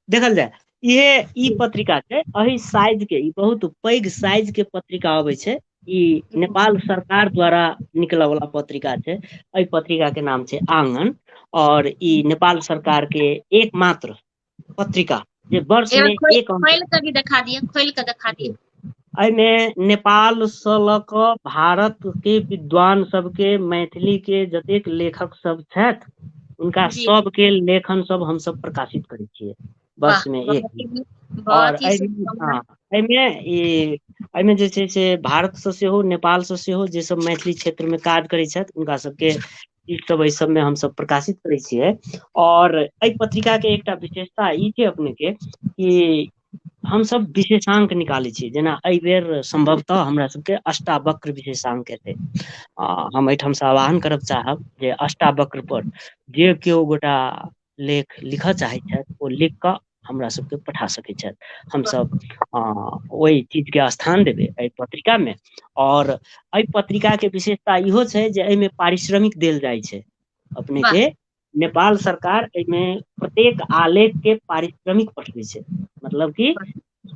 देखल जाए इहे ई पत्रिका छै अही साइज के ई बहुत पैघ साइज के पत्रिका अबै छै ई नेपाल सरकार द्वारा निकलऽ वाला पत्रिका छै एहि पत्रिका के नाम छै आंगन और ई नेपाल सरकार के एकमात्र पत्रिका जे वर्ष एगो मे खोल एक अंक खोल कऽ भी देखा दिअ खोल कऽ देखा दिअ एहिमे नेपालसँ लऽ कऽ भारत के विद्वान सबके मैथिली के जतेक लेखक सब छथि हुनका जी सबके लेखन सब हमस प्रकाशित करै छियै वाह वर्षमे एक बहुत ही नीक दिन आओर बहुत ही एहि शुभकामना हँ एहिमे ई एहिमे जे छै से भारतसँ सेहो नेपालसँ सेहो जेसभ मैथिली क्षेत्रमे काज करैत छथि हुनका सभके ई सब एहि सबमे हमस प्रकाशित करै छियै और एहि पत्रिका के एकटा विशेषता ई छै अपने के कि हमस विशेषांक निकालै छीयै जेना एहि बेर सम्भवतः हमरा सबके अष्टावक्र विशेषांक एतै आ हम एहिठामसँ आह्वान करय चाहब जे अष्टावक्र पर जे केओ गोटा लेख लिखय चाहैत छथि ओ लिख कऽ हमरा सभके पठा सकैत छथि हमसभ अ ओहि चीज के स्थान देबै एहि पत्रिका मे और एहि पत्रिका के विशेषता इहो छै जे एहिमे पारिश्रमिक देल जाइ छै अपने वाह के नेपाल सरकार एहिमे प्रत्येक आलेख के पारिश्रमिक पठबी छै मतलब की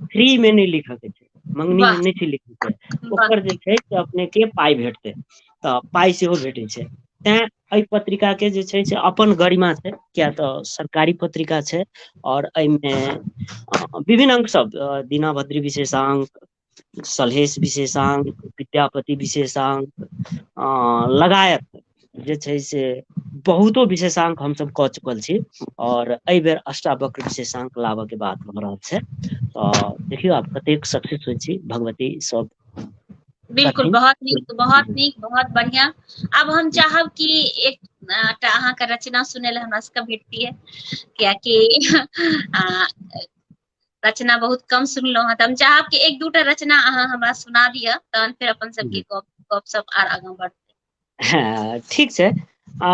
फ्री मे नहि लिखऽ के छै मंगनी मे वाह नहि छै लिखै के वाह ओकर जे छै से अपने के पाय भेटतै तऽ पाय सेहो भेटै छै तैं एहि पत्रिका के जे छै से अपन गरिमा छै किया तऽ सरकारी पत्रिका छै आओर एहिमे विभिन्न अंक सब दीना भद्री विशेषांक सलहेश विशेषांक विद्यापति विशेषांक अ लगायत जे छै से बहुतो विशेषांक हमसभ कऽ चुकल छी आओर एहि बेर अष्टावक्र विशेषांक लाबऽ के बात भऽ रहल छै तऽ देखियौ आब कतेक सक्सेस होइ छी भगवती सब बिलकुल करथिन बहुत नीक बहुत नीक बहुत बढ़िआँ आब हम चाहब कि एक टा अहाँके रचना सुनय लए हमरा सभके भेटतै कियाकि आ रचना बहुत कम सुनलहुँ हेँ तऽ हम चाहब कि एक दूटा रचना अहाँ हमरा सुना दिअ तहन फेर अपन सबके गप गप सप आर आगाँ बढ़तै हँ ठीक छै आ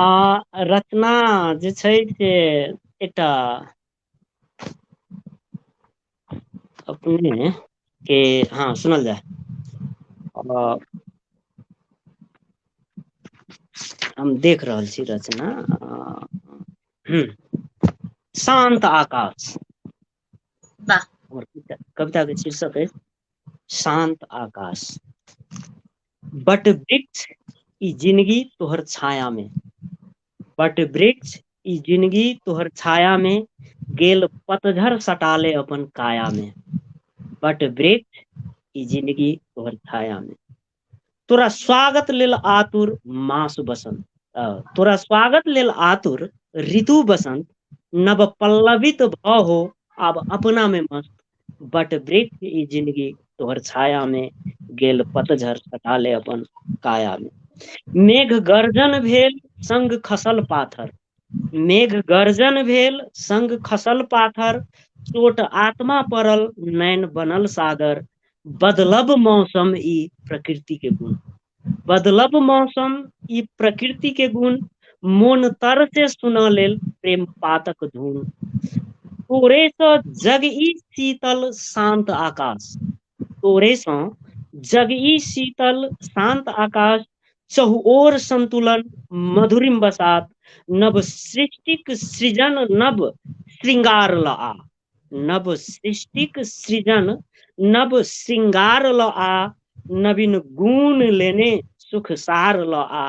रचना जे छै से एकटा अपने के हँ सुनल जाय अ, हम देख रहल छी रचना ह शान्त आकाश वाह हमर कविता के शीर्षक अछि शान्त आकाश बट वृक्ष ई जिनगी तोहर छाया मे बट वृक्ष ई जिनगी तोहर छाया मे गेल पतझर सटा ले अपन काया मे बट वृक्ष ई जिनगी तोहर छाया मे तोरा स्वागत लेल आतुर मास बसन्त अ तोरा स्वागत लेल आतुर ऋतु बसन्त नव पल्लवित भ हो आब अपना मे मस्त बट वृक्ष ई जिंन्दगी तोहर छाया मे गेल पतझड़ कटा ले अपन काया मे मेघ गर्जन भेल संग खसल पाथर मेघ गर्जन भेल संग खसल पाथर चोट आत्मा पड़ल नैन बनल सागर बदलब मौसम ई प्रकृति के गुण बदलब मौसम ई प्रकृति के गुण मोन तर से सुना लेल प्रेम पातक धुन तोरे सँ जग ई शीतल शान्त आकाश तोरे सँ जग ई शीतल शान्त आकाश चहुओर संन्तुलन मधुरिम बसात नव सृष्टिक सृजन नव श्रृंगार लआ नव सृष्टिक सृजन नव शृंगार ल आ नवीन गुण लेने सुख सार लऽ आ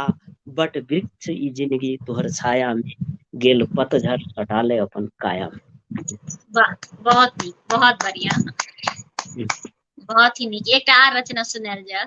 बट वृक्ष ई जिनगी तोहर छाया मे गेल पतझड़ सटाले अपन काया मे वाह बहुत नीक बहुत बढ़िया बहुत ही नीक एकटा आर रचना सुनायल जाय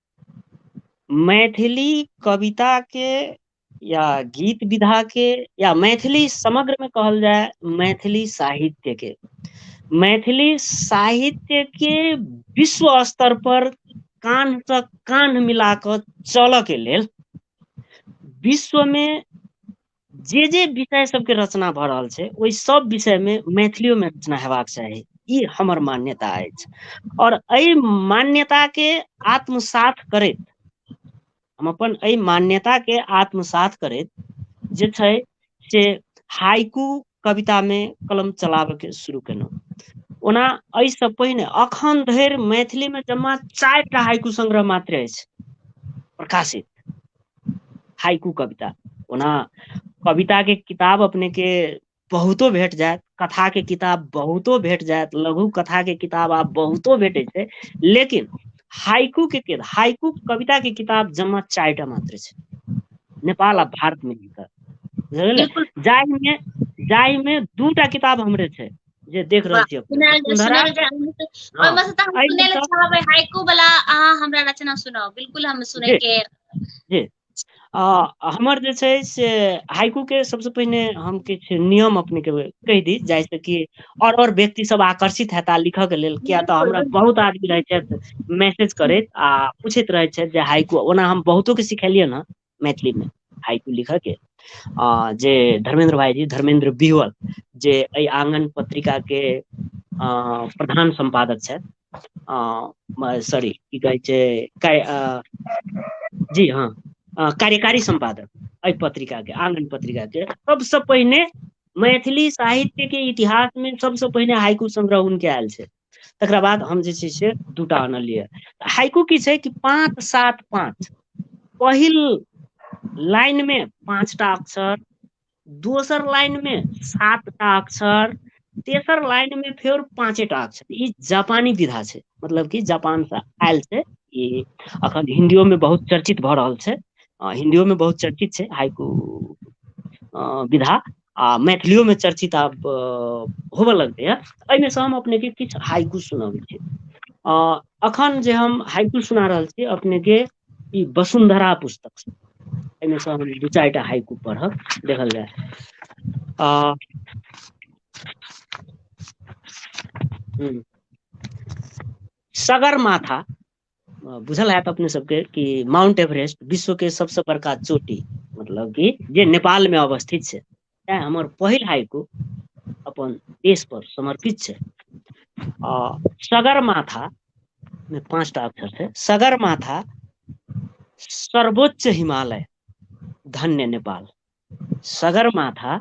मैथिली कविता के या गीत विधा के या मैथिली समग्र में कहल जाय मैथिली साहित्य के मैथिली साहित्य के विश्व स्तर पर कान से कान मिला कर चलऽ के लेल विश्व में जे जे विषय सभके रचना भऽ रहल छै ओहि सभ विषयमे मैथिलियोमे रचना हेबाक चाही ई हमर मान्यता अछि आओर एहि मान्यताके आत्मसात करैत हम अपन एहि मान्यताके आत्मसात करैत जे छै से हाइकू कविता मे कलम चलाबे के शुरू केलहुँ ओना एहिसँ पहिने एखन धरि मैथिलीमे जमा चारि टा हाइकु संग्रह मात्र अछि प्रकाशित हाइकू कविता ओना कविता के किताब अपने के बहुतो भेट जायत कथा के किताब बहुतो भेट जायत लघु कथा के किताब आब बहुतो भेटे छै लेकिन हाइकू के किताब हाइकू कविता के किताब जमा चारि टा मात्र छै नेपाल आ भारत मे लिखल जाहिमे जाहिमे दूटा किताब हमरे छै जे देख रहल छी अपने सब सुनहरा हँ ओहिमे तऽ हम एहिमे सुनै लए तऽ चाहबै हाइकू वाला अहाँ हमरा रचना सुनाउ बिलकुल हम जी सुनैके जी आ हमर जे छै से हाइकू के सबसँ पहिने हम किछु नियम अपने के कहि दी जाइ स कि आओर आओर व्यक्ति सब आकर्षित हेताह लिखय के लेल किया तऽ बिल्कुल हमरा बिल्कुल बहुत आदमी रहैत छथि मैसेज करैत आ पूछैत रहैत छथि जे हाइकु ओना हम बहुतो के सिखेलियन हँ मैथिली मे हाइकु लिखऽ के अ जे धर्मेन्द्र भाईजी धर्मेन्द्र बिहुअल जे एहि आंगन पत्रिका के अ प्रधान सम्पादक छैथ अ सॉरी की कहै छै कै अ जी हँ कार्यकारी सम्पादक एहि पत्रिका के आनंद पत्रिका के सबसँ पहिने मैथिली साहित्य के इतिहास मे सबसँ पहिने हाइकु संग्रह हुनके आयल छै तकरा बाद हम जे छै से दूटा आनलियै हाइकू की छै कि पाँच सात पाँच पहिल लाइन मे पाँचटा अक्षर दोसर लाइन मे सात टा अक्षर तेसर लाइन मे फेर पाँचे टा अक्षर ई जापानी विधा छै मतलब की जापान से आयल छै ई अखन हिन्दियो मे बहुत चर्चित भऽ रहल छै आ हिन्दियो मे बहुत चर्चित छै हाइकु अ विधा आ मैथिलियो मे चर्चित आब होबय लगलै हे एहिमे सँ हम अपनेके किछु हाइकु सुनबैत छी अ अखन जे हम हाइकु सुना रहल छी अपने के ई वसुन्धरा पुस्तक छी एहिमे सँ हम दू चारि टा हाइकु पढ़ब देखल जाय आ हूँ सगरमाथा बुझल हयत अपने सबके कि माउंट एवरेस्ट विश्व के सबस बड़का चोटी मतलब क जे नेपाल मे अवस्थित छै तैं हमर पहिल आयकू अपन देश पर समर्पित छै आ सगर माथा मे पाँच टा अक्षर छै सगर माथा सर्वोच्च हिमालय धन्य नेपाल सगरमाथा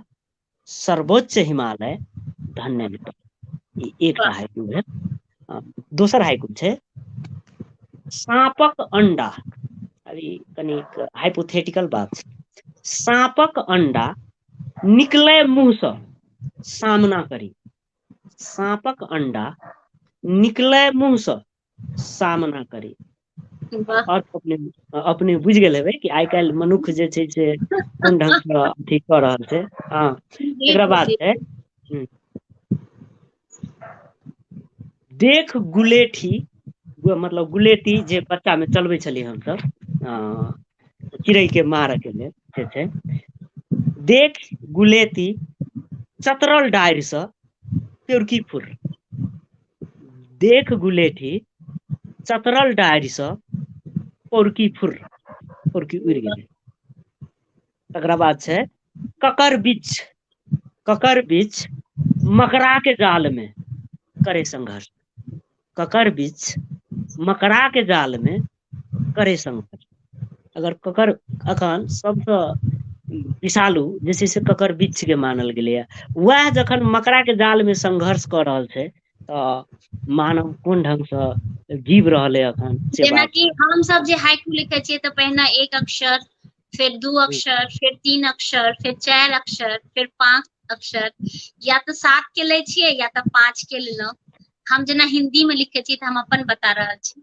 सर्वोच्च हिमालय धन्य मिथिला ई एकटा वाह हाइकु भेल आ दोसर हाइकु छै साँपक अण्डा आब ई कनिक हाइपोथेटिकल बात छै साँपक अण्डा निकलै मुँहसँ सामना करी साँपक अण्डा निकलै मुँहसँ सामना करी वाह आओर अपने अपने बुझि गेल हेबै कि आइ काल्हि मनुष्ख जे छै से कोन ढंग स अथी कऽ रहल छै हँ जी एकरा बाद जी छै हूँ देख गुलेठी मतलब गुलेती जे बच्चा मे चलबै छलियै हमसभ हँ चिड़ै के मारऽ के लेल जे छै देख गुलेती चतरल डारि सँ केहूँ की फुर देख गुलेठी चतरल डारिसँ पोरकी फुर्र पोरकी उड़ि गेलै तकरा बाद छै ककर बिछ ककर बिछ मकड़ा के जाल मे करे संघर्ष ककर बिछ मकड़ा के जाल मे करै सम अगर ककर अखन सबसँ विषालु जे छै से ककर बिच्छ के मानल गेलैया वएह जखन मकरा के जाल मे संघर्ष कऽ रहल छै तऽ मानव कोन ढंग सँ जीव रहल अइ एखन से बात जेनाकि हमसभ जे हाइकु लिखै छियै तऽ पहिने एक अक्षर फेर दू हुँ, अक्षर फेर तीन अक्षर फेर चारि अक्षर फेर पाँच अक्षर या तऽ सात के लै छियै या तऽ पाँच के लेलहुँ हम जेना हिन्दी मे लिखै छी तऽ हम अपन बता रहल छी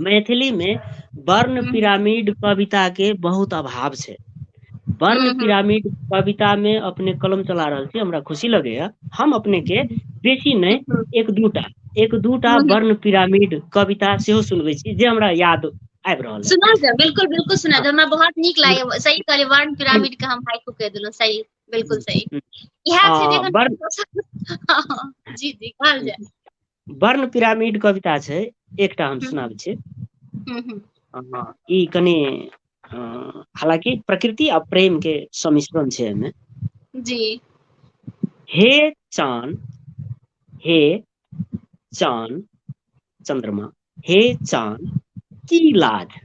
मैथिली मे वर्ण हूँ पिरामिड कविता के बहुत अभाव छै वर्ण हूँ हूँ पिरामिड कविता मे अपने कलम चला रहल छी हमरा खुशी लगैया हम अपने के बेसी नहि हूँ एक दूटा एक दूटा हूँ वर्ण पिरामिड कविता सेहो सुनवे छी जे हमरा याद आबि रहल अइ सुनाउ ने बिल्कुल बिल्कुल सुना हँ दे हमरा बहुत नीक लागैए सही कहलियै वर्ण पिरामिड के हम हाइकु कहि देलहुँ सही बिल्कुल सही इएह छै जे हँ वर्ण एखन जी जी कहल जाय वर्ण पिरामिड कविता छै एकटा हम सुनाबै छी हूँ हूँ ह ई कनि हालँकि प्रकृति आ प्रेम के सम्मिश्रण छै एहिमे जी हे चान हे चान चन्द्रमा हे चान की लाज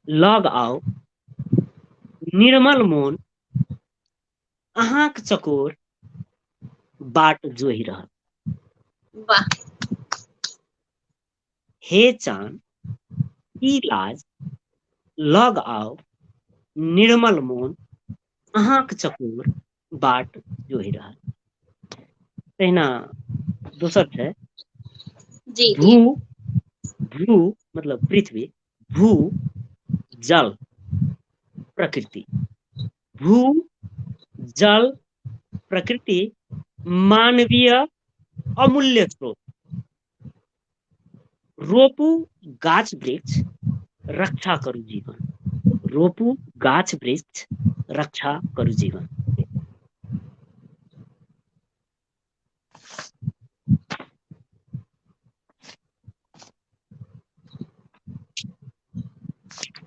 लग आउ निर्मल मोन अहाँक चकोर बाट जोहि रहल। वाह। हे चान ई लाज लऽग आउ निर्मल मोन अहाँक चकोर बाट जोहि रहल। तहिना दोसर छै जी जी भू भ्रू मतलब पृथ्वी भू जल प्रकृति भू जल प्रकृति मानवीय अमूल्य स्रोत रोपू गाछ वृक्ष रक्षा करू जीवन रोपू गाछ वृक्ष रक्षा करू जीवन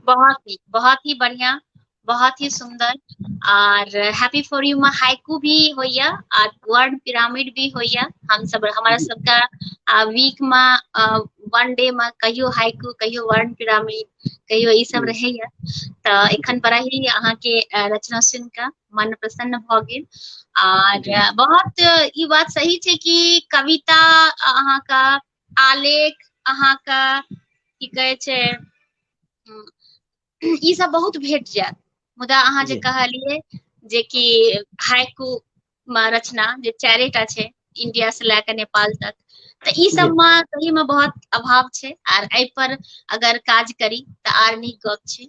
बहुत ही बहुत ही बढ़िया बहुत ही सुंदर आर हैप्पी फॉर यू मे हाइकू भी होइया आर वर्ड पिरामिड भी होइया हम सब हमारा सबका वीक मे वन डे मे कहियो हाइकू कहियो वर्ड पिरामिड कहियो ई सब रहैया तऽ एखन बड़ा ही अहाँके रचना सुनि कऽ मन प्रसन्न भऽ गेल आर बहुत ई बात सही छै कि कविता अहाँके आलेख अहाँके की कहै छै ई सब बहुत भेट जायत मुदा अहाँ जे कहलिए जे कि हाइकू मे रचना जे चारिटा छै इंडिया से लए के नेपाल तक तो ई सब मे सही में बहुत अभाव छै आर एहि पर अगर काज करी तो आर नीक गप छै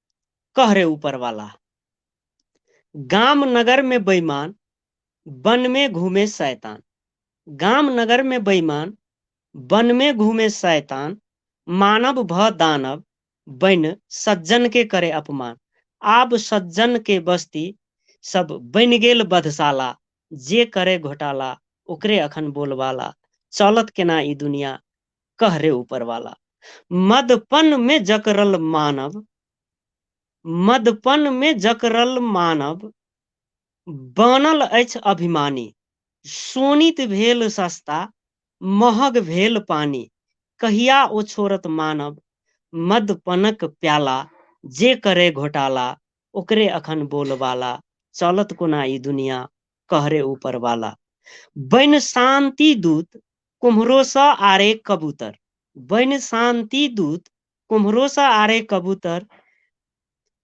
कह रे ऊपर वाला गाम नगर में बेईमान वन में घूमे शैतान गाम नगर में बेईमान वन में घूमे शैतान मानव भ दानव बन सज्जन के करे अपमान आब सज्जन के बस्ती सब बन गेल बधशाला जे करे घोटाला ओकरे अखन बोलबाला चलत केना ई दुनिया कह रे ऊपर वाला मदपन में जकरल मानव मदपन में जकरल मानव बनल अछि अभिमानी सोनित भेल सस्ता महग भेल पानी कहिया ओ छोड़त मानव मदपनक प्याला जे करे घोटाला ओकरे अखन बोलबाला चलत कोना ई दुनिया कहरे ऊपर वाला बन शांति दूत कुम्हरो सा आरे कबूतर बन शांति दूत कुम्हरो सा आरे कबूतर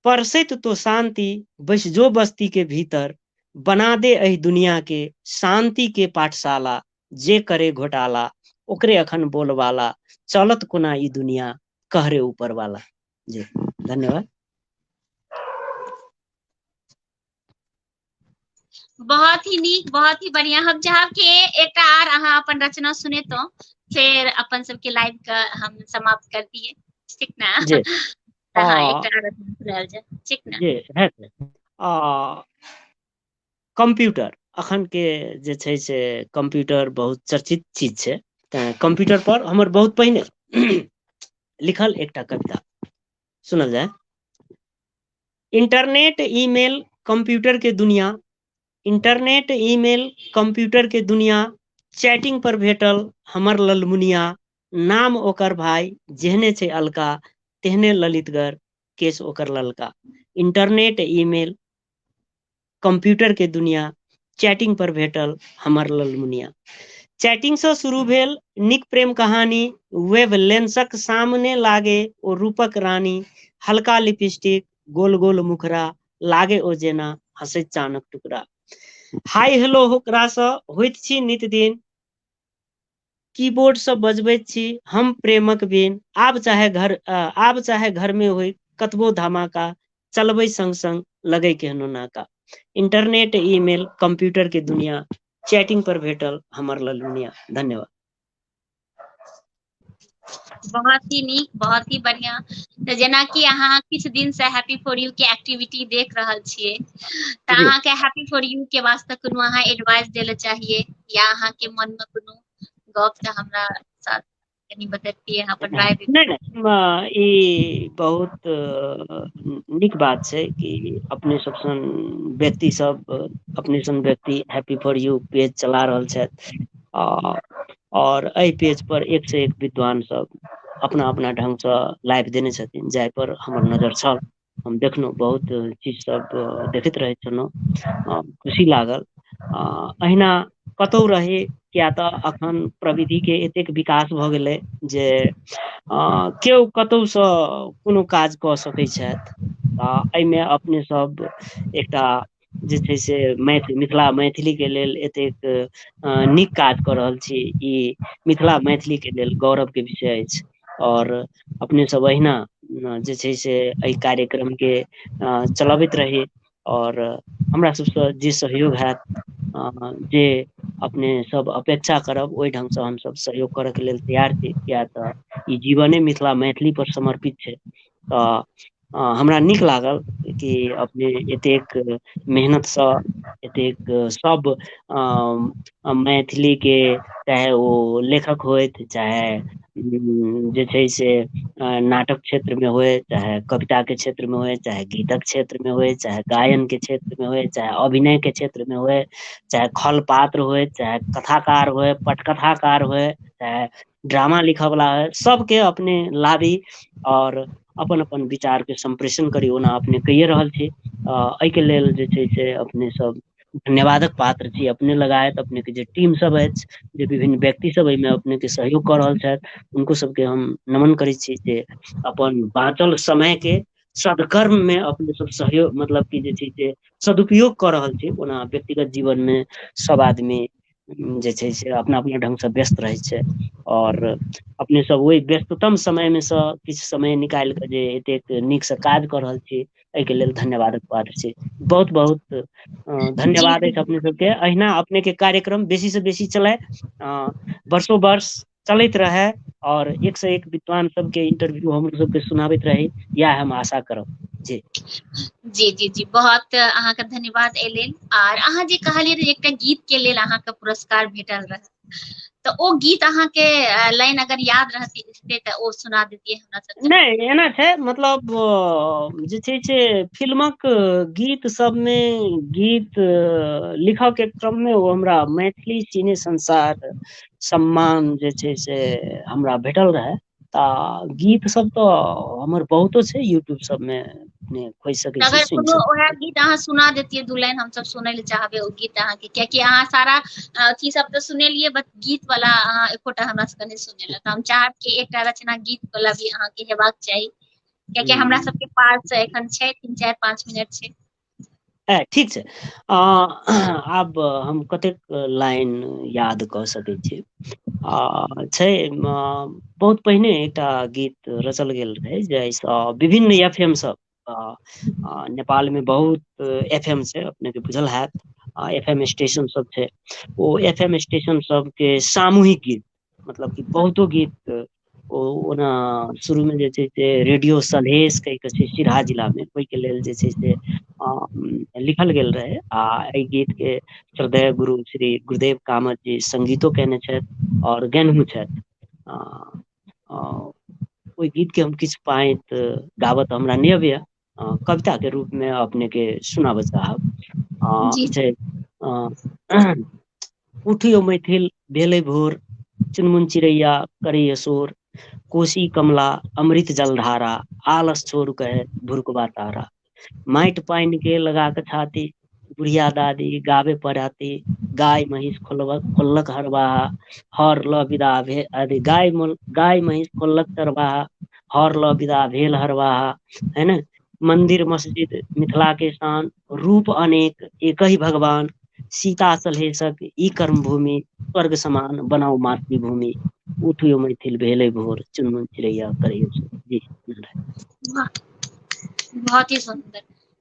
परसित तो शांति बस जो बस्ती के भीतर बना दे अहि दुनिया के शांति के पाठशाला जे करे घोटाला ओकरे अखन बोलवाला चलत कोना ई दुनिया कहरे ऊपर वाला जी धन्यवाद बहुत ही नीक बहुत ही बढ़िया हम चाहब कि एकटा आर अहाँ अपन रचना सुनेतहुँ फेर अपन सबके लाइव के हम समाप्त कर दिए ठीक ना जी तऽ अहाँ आ, एकटा आर रचना सुनायल जाय ठीक ना जे हेतै आ कंप्यूटर अखन के जे छै से कंप्यूटर बहुत चर्चित चीज छै तैं कंप्यूटर पर हमर बहुत पहिने लिखल एकटा कविता सुनल जाय इंटरनेट ईमेल कंप्यूटर के दुनिया इंटरनेट ईमेल कंप्यूटर के दुनिया चैटिंग पर भेटल हमर ललमुनिया नाम ओकर भाई जेहने छै अलका तेहने ललितगर केस ओकर ललका इंटरनेट ईमेल कम्प्यूटर के दुनिया चैटिंग पर भेटल हमर ललमुनिया चैटिंग से शुरू भेल निक प्रेम कहानी वेब लेंसक सामने लागे ओ रूपक रानी हल्का लिपस्टिक गोल गोल मुखरा लागे ओ जेना हंसे चानक टुकड़ा हाय हेलो होकरा से होइत छी नित दिन कीबोर्ड सँ बजबैत छी हम प्रेमक बीन आब चाहे घर आब चाहे घर में होई कतबो धमाका चलबै संग संग लगै केहनो नाका इंटरनेट ईमेल कंप्यूटर के दुनिया चैटिंग पर भेटल हमर ललुनिया धन्यवाद बहुत ही नीक बहुत ही बढ़िया तऽ जेनाकि अहाँ किछु दिन से हैप्पी फोर यू के एक्टिविटी देख रहल छियै तऽ जी अहाँके हैप्पी फोर यू के वास्ते कोनो अहाँ एडवाइस देल चाहिए या अहाँके मन मे कोनो गप तऽ हमरा साथ कनि बतैब हँ नहि नहि म ई बहुत नीक बात छै कि अपने सब सन व्यक्ति सब अपने सन व्यक्ति हैप्पी फॉर यू पेज चला रहल छथि आ आओर एहि पेज पर एक से एक विद्वान सब अपना अपना ढंग सँ लाइफ देने छथिन जाय पर हमर नजर छल हम देखलहुँ बहुत चीज सब देखैत रहै छलहुँ आ खुशी लागल आ अहिना कतौ रही किया तऽ अखन प्रविधि के एतेक विकास भऽ गेलै जे अ केओ कतहु सँ कोनो काज कऽ सकैत छथि आ एहिमे अपने सब एकटा जे छै से मैथ मिथिला मैथिली के लेल एतेक अ नीक काज कऽ रहल छी ई मिथिला मैथिली के लेल गौरव के विषय अछि आओर अपने सब अहिना जे छै से एहि कार्यक्रम के अ चलबैत रही आओर हमरा सबसँ जे सहयोग हैत अ जे अपने सब अपेक्षा करब ओहि ढंग सँ हमसभ सहयोग करय के लेल तैयार छी किया तऽ ई जीवने मिथिला मैथिली पर समर्पित छै तऽ ह हमरा नीक लागल कि अपने एतेक मेहनतसँ एतेक सब अ मैथिली के चाहे ओ लेखक होथि चाहे उ जे छै से नाटक क्षेत्र मे हुए चाहे कविता के क्षेत्र मे होए चाहे गीतक के क्षेत्र मे होए चाहे गायन के क्षेत्र मे होए चाहे अभिनय के क्षेत्र मे होए चाहे खल पात्र होए चाहे कथाकार होए पटकथा कार होए चाहे ड्रामा लिखय वला हय सबके अपने लाबी आओर अपन अपन विचार के सम्प्रेषण करी ओना अपने कहिये रहल छी अ एहिके लेल जे छै से अपने सब धन्यवादक पात्र छी अपने लगायत अपने के जे टीम सब अछि जे विभिन्न व्यक्ति सब एहिमे अपने के सहयोग कऽ रहल छथि हुनको सबके हम नमन करै छी जे अपन बाचल समय के सदकर्म मे अपने सब सहयोग मतलब की जे छै से सदुपयोग कऽ रहल छी ओना व्यक्तिगत जीवन मे सब आदमी जे छै से अपना अपना ढंग सँ व्यस्त रहै छै आओर अपने सब ओहि व्यस्ततम समय मे सँ किछु समय निकालि कऽ जे एतेक नीक सँ काज कऽ रहल छी एहिके लेल धन्यवादक पात्र छी बहुत बहुत अ जी धन्यवाद अछि अपने सबके अहिना अपने के कार्यक्रम बेसी से बेसी चलय अ वर्षो वर्ष चलैत रहै आओर एक से एक विद्वान सबके इंटरव्यू हमरो सबके सुनाबैत रहै इएह हम आशा करब जी जी जी जी बहुत अहाँके धन्यवाद एहि लेल आर अहाँ जे कहलियै रह एकटा गीत के लेल अहाँके पुरस्कार भेटल रह तऽ ओ गीत अहाँके लाइन अगर याद रहतै तऽ ओ सुना देतियै हमरा सबके नहि एना छै मतलब जे छै से फिल्मक गीत सबमे गीत लिखऽ के क्रममे ओ हमरा मैथिली सिने संसार सम्मान जे छै से हमरा भेटल रहय तऽ गीत सब तऽ हमर बहुतो छै यूट्यूब सबमे अपने खोजि सकै छी अगर सुनि कोनो सकै ओएह छी गीत अहाँ सुना देतियै दू लाइन हमसभ सुनय लए चाहबै ओ गीत अहाँके कियाकि अहाँ सारा अथी सब तऽ सुनेलियै ब गीत वाला अहाँ एकोटा हमरा सबके नहि सुनेल तऽ हम चाहब कि एकटा रचना गीत वला भी अहाँके हेबाक चाही कियाकि हमरा हूँ सबके पास एखन छै तीन चारि पाँच मिनट छै ह ठीक छै अ आब हम कतेक लाइन याद कऽ सकै छी आ छै बहुत पहिने एकटा गीत रचल गेल रहै जाहिसँ विभिन्न एफ एम सब आ नेपाल मे बहुत एफ एम छै अपने के बुझल हयत आ एफ एम स्टेशन सब छै ओ एफ एम स्टेशन सब के सामूहिक गीत मतलब कि बहुतो गीत ओ ओना शुरू मे जे छै से रेडियो सलहेश कै के छै सिराहा जिला मे ओहि के लेल जे छै से लिखल गेल रहय आ एहि गीत के श्रद्धेय गुरु श्री गुरुदेव कामत जी संगीतो कयने छथि आओर गेनहो छथि आ आ ओहि गीत के हम किछु पांति गाबय तऽ हमरा नै अबैया अ कविता के रूप मे अपने के सुनाबय चाहब अ जी छै अ उठीयौ मैथिल भेलै भोर चुनमुन चिड़ैया करैय शोर कोशी कमला अमृत जलधारा आलस छोड़ कहे भुरुकबा तारा माटि पानि के लगा क छाती बुढ़िया दादी गाबे पड़ती गाय महींष खोलबक खोललक हरबाहा हर ल विदा भेल अथी गाय गाय महीष खोललक चरबाहा हर ल विदा भेल हरबाहा है ने मन्दिर मस्जिद मिथिला के शान रूप अनेक एकहि भगवान सीता सलहेशक ई कर्म भूमि स्वर्ग समान बनाउ मातृभूमि उठि यौ मैथिल भेलै भोर चुनमुन चिड़ैया करैय सोर जी वाह बहुत ही सुन्दर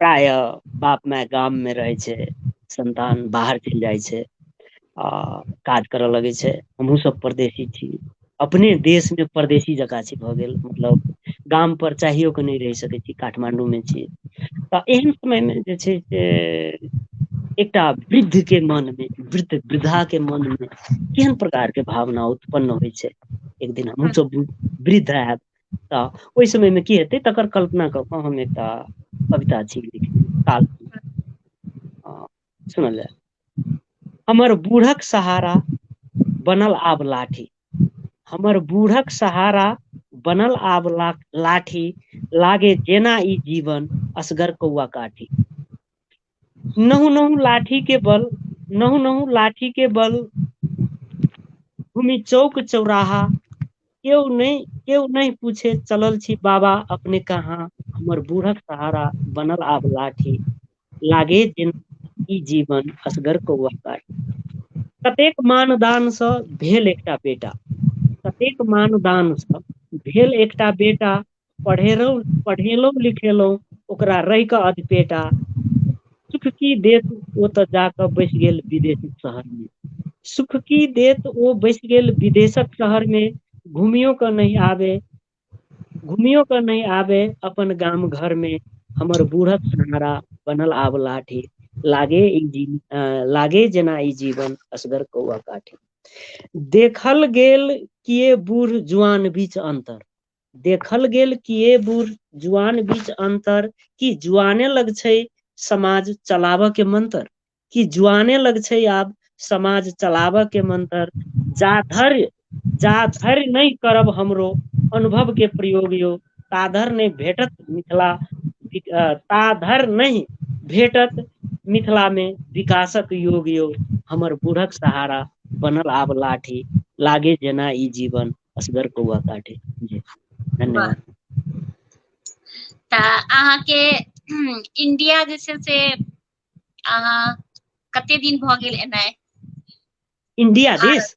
प्राय बाप माय गाम मे रहै छै संन्तान बाहर चलि जाइ छै आ काज करय लगै छै हमहूँ सभ परदेशी छी अपने देश मे परदेशी जकाँ छी भऽ गेल मतलब गाम पर चाहियो कऽ नहि रहि सकैत छी काठमाण्डू मे छी तऽ एहन समय मे जे छै से एकटा वृद्ध के मन मे वृद्ध वृद्धा के मन मे केहन प्रकार के भावना उत्पन्न होइ छै एक दिन हमहूँ सब वृद्ध हयब तऽ ओहि समय मे की हेतै तकर कल्पना कऽ कऽ हम एकटा कविता छी काल हँ सुनल जाय हमर बूढ़क सहारा बनल आब लाठी हमर बूढ़क सहारा बनल आब ला लाठी लागे जेना ई जीवन असगर कौआ काठी नहु नहु लाठी के बल नहु नहु लाठी के बल भूमि चौक चौराहा केओ नहि केओ नहि पूछे चलल छी बाबा अपने कहाँ हमर बूढ़क सहारा बनल आब लाठी लागे जेना ई जीवन असगर कौआ काटी कतेक मानदानसँ भेल एकटा बेटा कतेक मानदानसँ भेल एकटा बेटा पढ़ेलहुँ पढ़ेलहुँ लिखेलहुँ ओकरा रहि कऽ अधपेट आ सुख की देत ओ तऽ जा कऽ बैस गेल विदेश शहर मे सुख की देत ओ बैस गेल विदेशक शहर मे घुमियो कऽ नहि आबे घुमियो कऽ नहि आबे अपन गाम घर मे हमर बूढ़क सहारा बनल आब लाठी लागे ई जी अ लागे जेना ई जीवन असगर कौआ काठी देखल गेल किए बूढ़ जुआन बीच अन्तर देखल गेल कि ये बूढ़ जुआन बीच अंतर कि जुआने लग छै समाज चलाबऽ के मंतर कि जुआने लग छै आब समाज चलाबऽ के मंतर जा धैर्य जा धैर्य नहि करब हमरो अनुभव के प्रयोग यो ता धर नहि भेटत मिथिला ता धर नहि भेटत मिथिला मे विकासक योग यो हमर बूढ़क सहारा बनल आब लाठी लागे जेना ई जीवन असगर कौआ काटे जी वाह धन्यवाद तऽ अहाँके इं्डिया जे छै से अहाँ कते दिन भऽ गेल एनाइ इणडिया दिस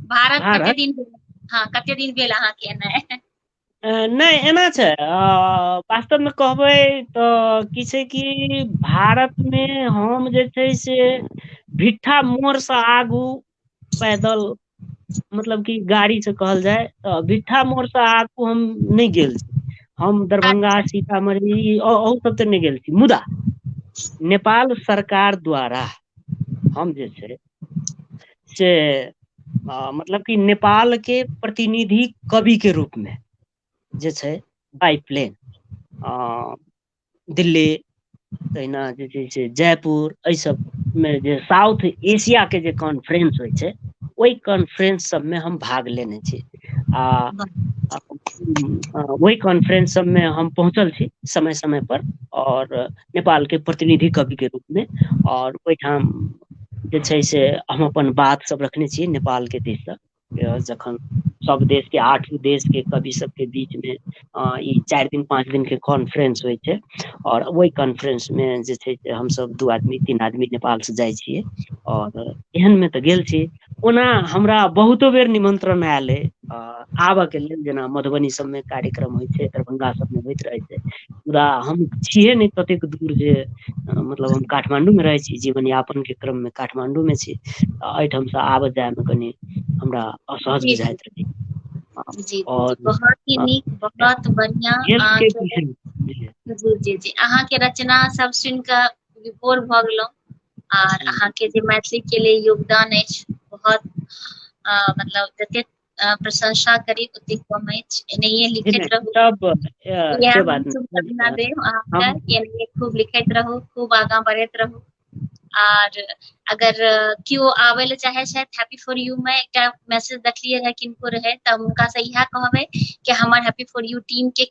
भारत भारत कते दिन भेल हँ कते दिन भेल अहाँके एना नहि एना छै वास्तवमे कहबै तऽ की छै कि भारतमे हम जे छै से भिट्ठा मोड़सँ आगू पैदल मतलब की गाड़ी से कहल जाय तऽ भिट्ठा मोड़ से आगू हम नहि गेल छी हम दरभंगा अच्छा सीतामढ़ी अहु सब ते नहि गेल छी मुदा नेपाल सरकार द्वारा हम जे छै से हँ मतलब कि नेपाल के प्रतिनिधि कवि के रूप मे जे छै बाइ प्लेन अ दिल्ली तहिना जे छै से जयपुर एहि सब मे जे साउथ एशिया के जे कॉन्फ्रेंस होइ छै ओहि कॉन्फ्रेंस सबमे हम भाग लेने छी आ ओहि कॉन्फ्रेंस सबमे हम पहुँचल छी समय समय पर आओर नेपाल के प्रतिनिधि कवि के रूप मे आओर ओहिठाम जे छै से हम अपन बात सब रखने छी नेपाल के दिस सँ जखन सब देश के आठ देश के कवि सब के बीच मे अ ई चारि दिन पाच दिन के कॉन्फ्रेंस होइ छै और ओहि कॉन्फ्रेंस मे जे छै से हमस दू आदमी तीन आदमी नेपाल से जाइ छियै और एहन मे तऽ गेल छी ओना हमरा बहुतो बेर निमन्त्रण आयल अइ आबय के लेल जेना मधुबनी सभमे कार्यक्रम होइत छै दरभंगा सभमे होइत रहैत छै पूरा हम छियै नहि ततेक दूर जे मतलब हम काठमाण्डू मे रहै छी जीवन यापन के क्रम मे काठमाण्डू मे छी एहिठाम से आबत जाय मे कनि हमरा असहज जी जी बुझाइत रहै जी जी जी आओर बहुत ही नीक बहुत बढ़िआँ हेल्थ के अहाँके विषय मे जी जी जी अहाँके रचना सब सुनि कऽ विभोर भऽ गेलहु आर जी अहाँके जे मैथिलीक के लेल योगदान अछि बहुत अ मतलब जतेक अ, प्रशंसा करी ओते कम अछि एनाहिए लिखैत एना रहू सब अ, इएह से हम बात शुभकामना नहि देब अहाँके हम कि एनाहिए खूब लिखैत रहू खूब आगाँ बढ़ैत रहू आर अगर अ, केओ आबै लए चाहे छथि हैप्पी फॉर यू मे एकटा मैसेज देखलियै रहै किनको रहै तऽ हम हुनकासँ इएह कहबै कि हमर हैप्पी फॉर यू टीम के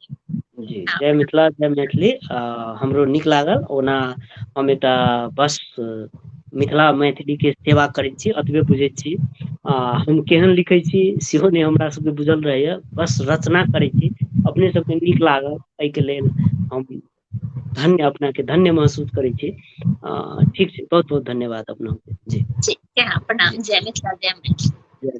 जी जय मिथिला जय मैथिली आ हमरो नीक लागल ओना हम एतऽ बस मिथिला मैथिलीक के सेवा करैत छी एतबे बुझैत छी आ हम केहन लिखै छी सेहो नहि हमरा सभके बुझल रहैए बस रचना करै छी अपने सभके नीक लागल एहिके लेल हम धन्य अपनाके धन्य महसूस करै छी आ ठीक छै बहुत बहुत धन्यवाद अपनाके जी ठीक छै प्रणाम जय मिथिला जय मैथिल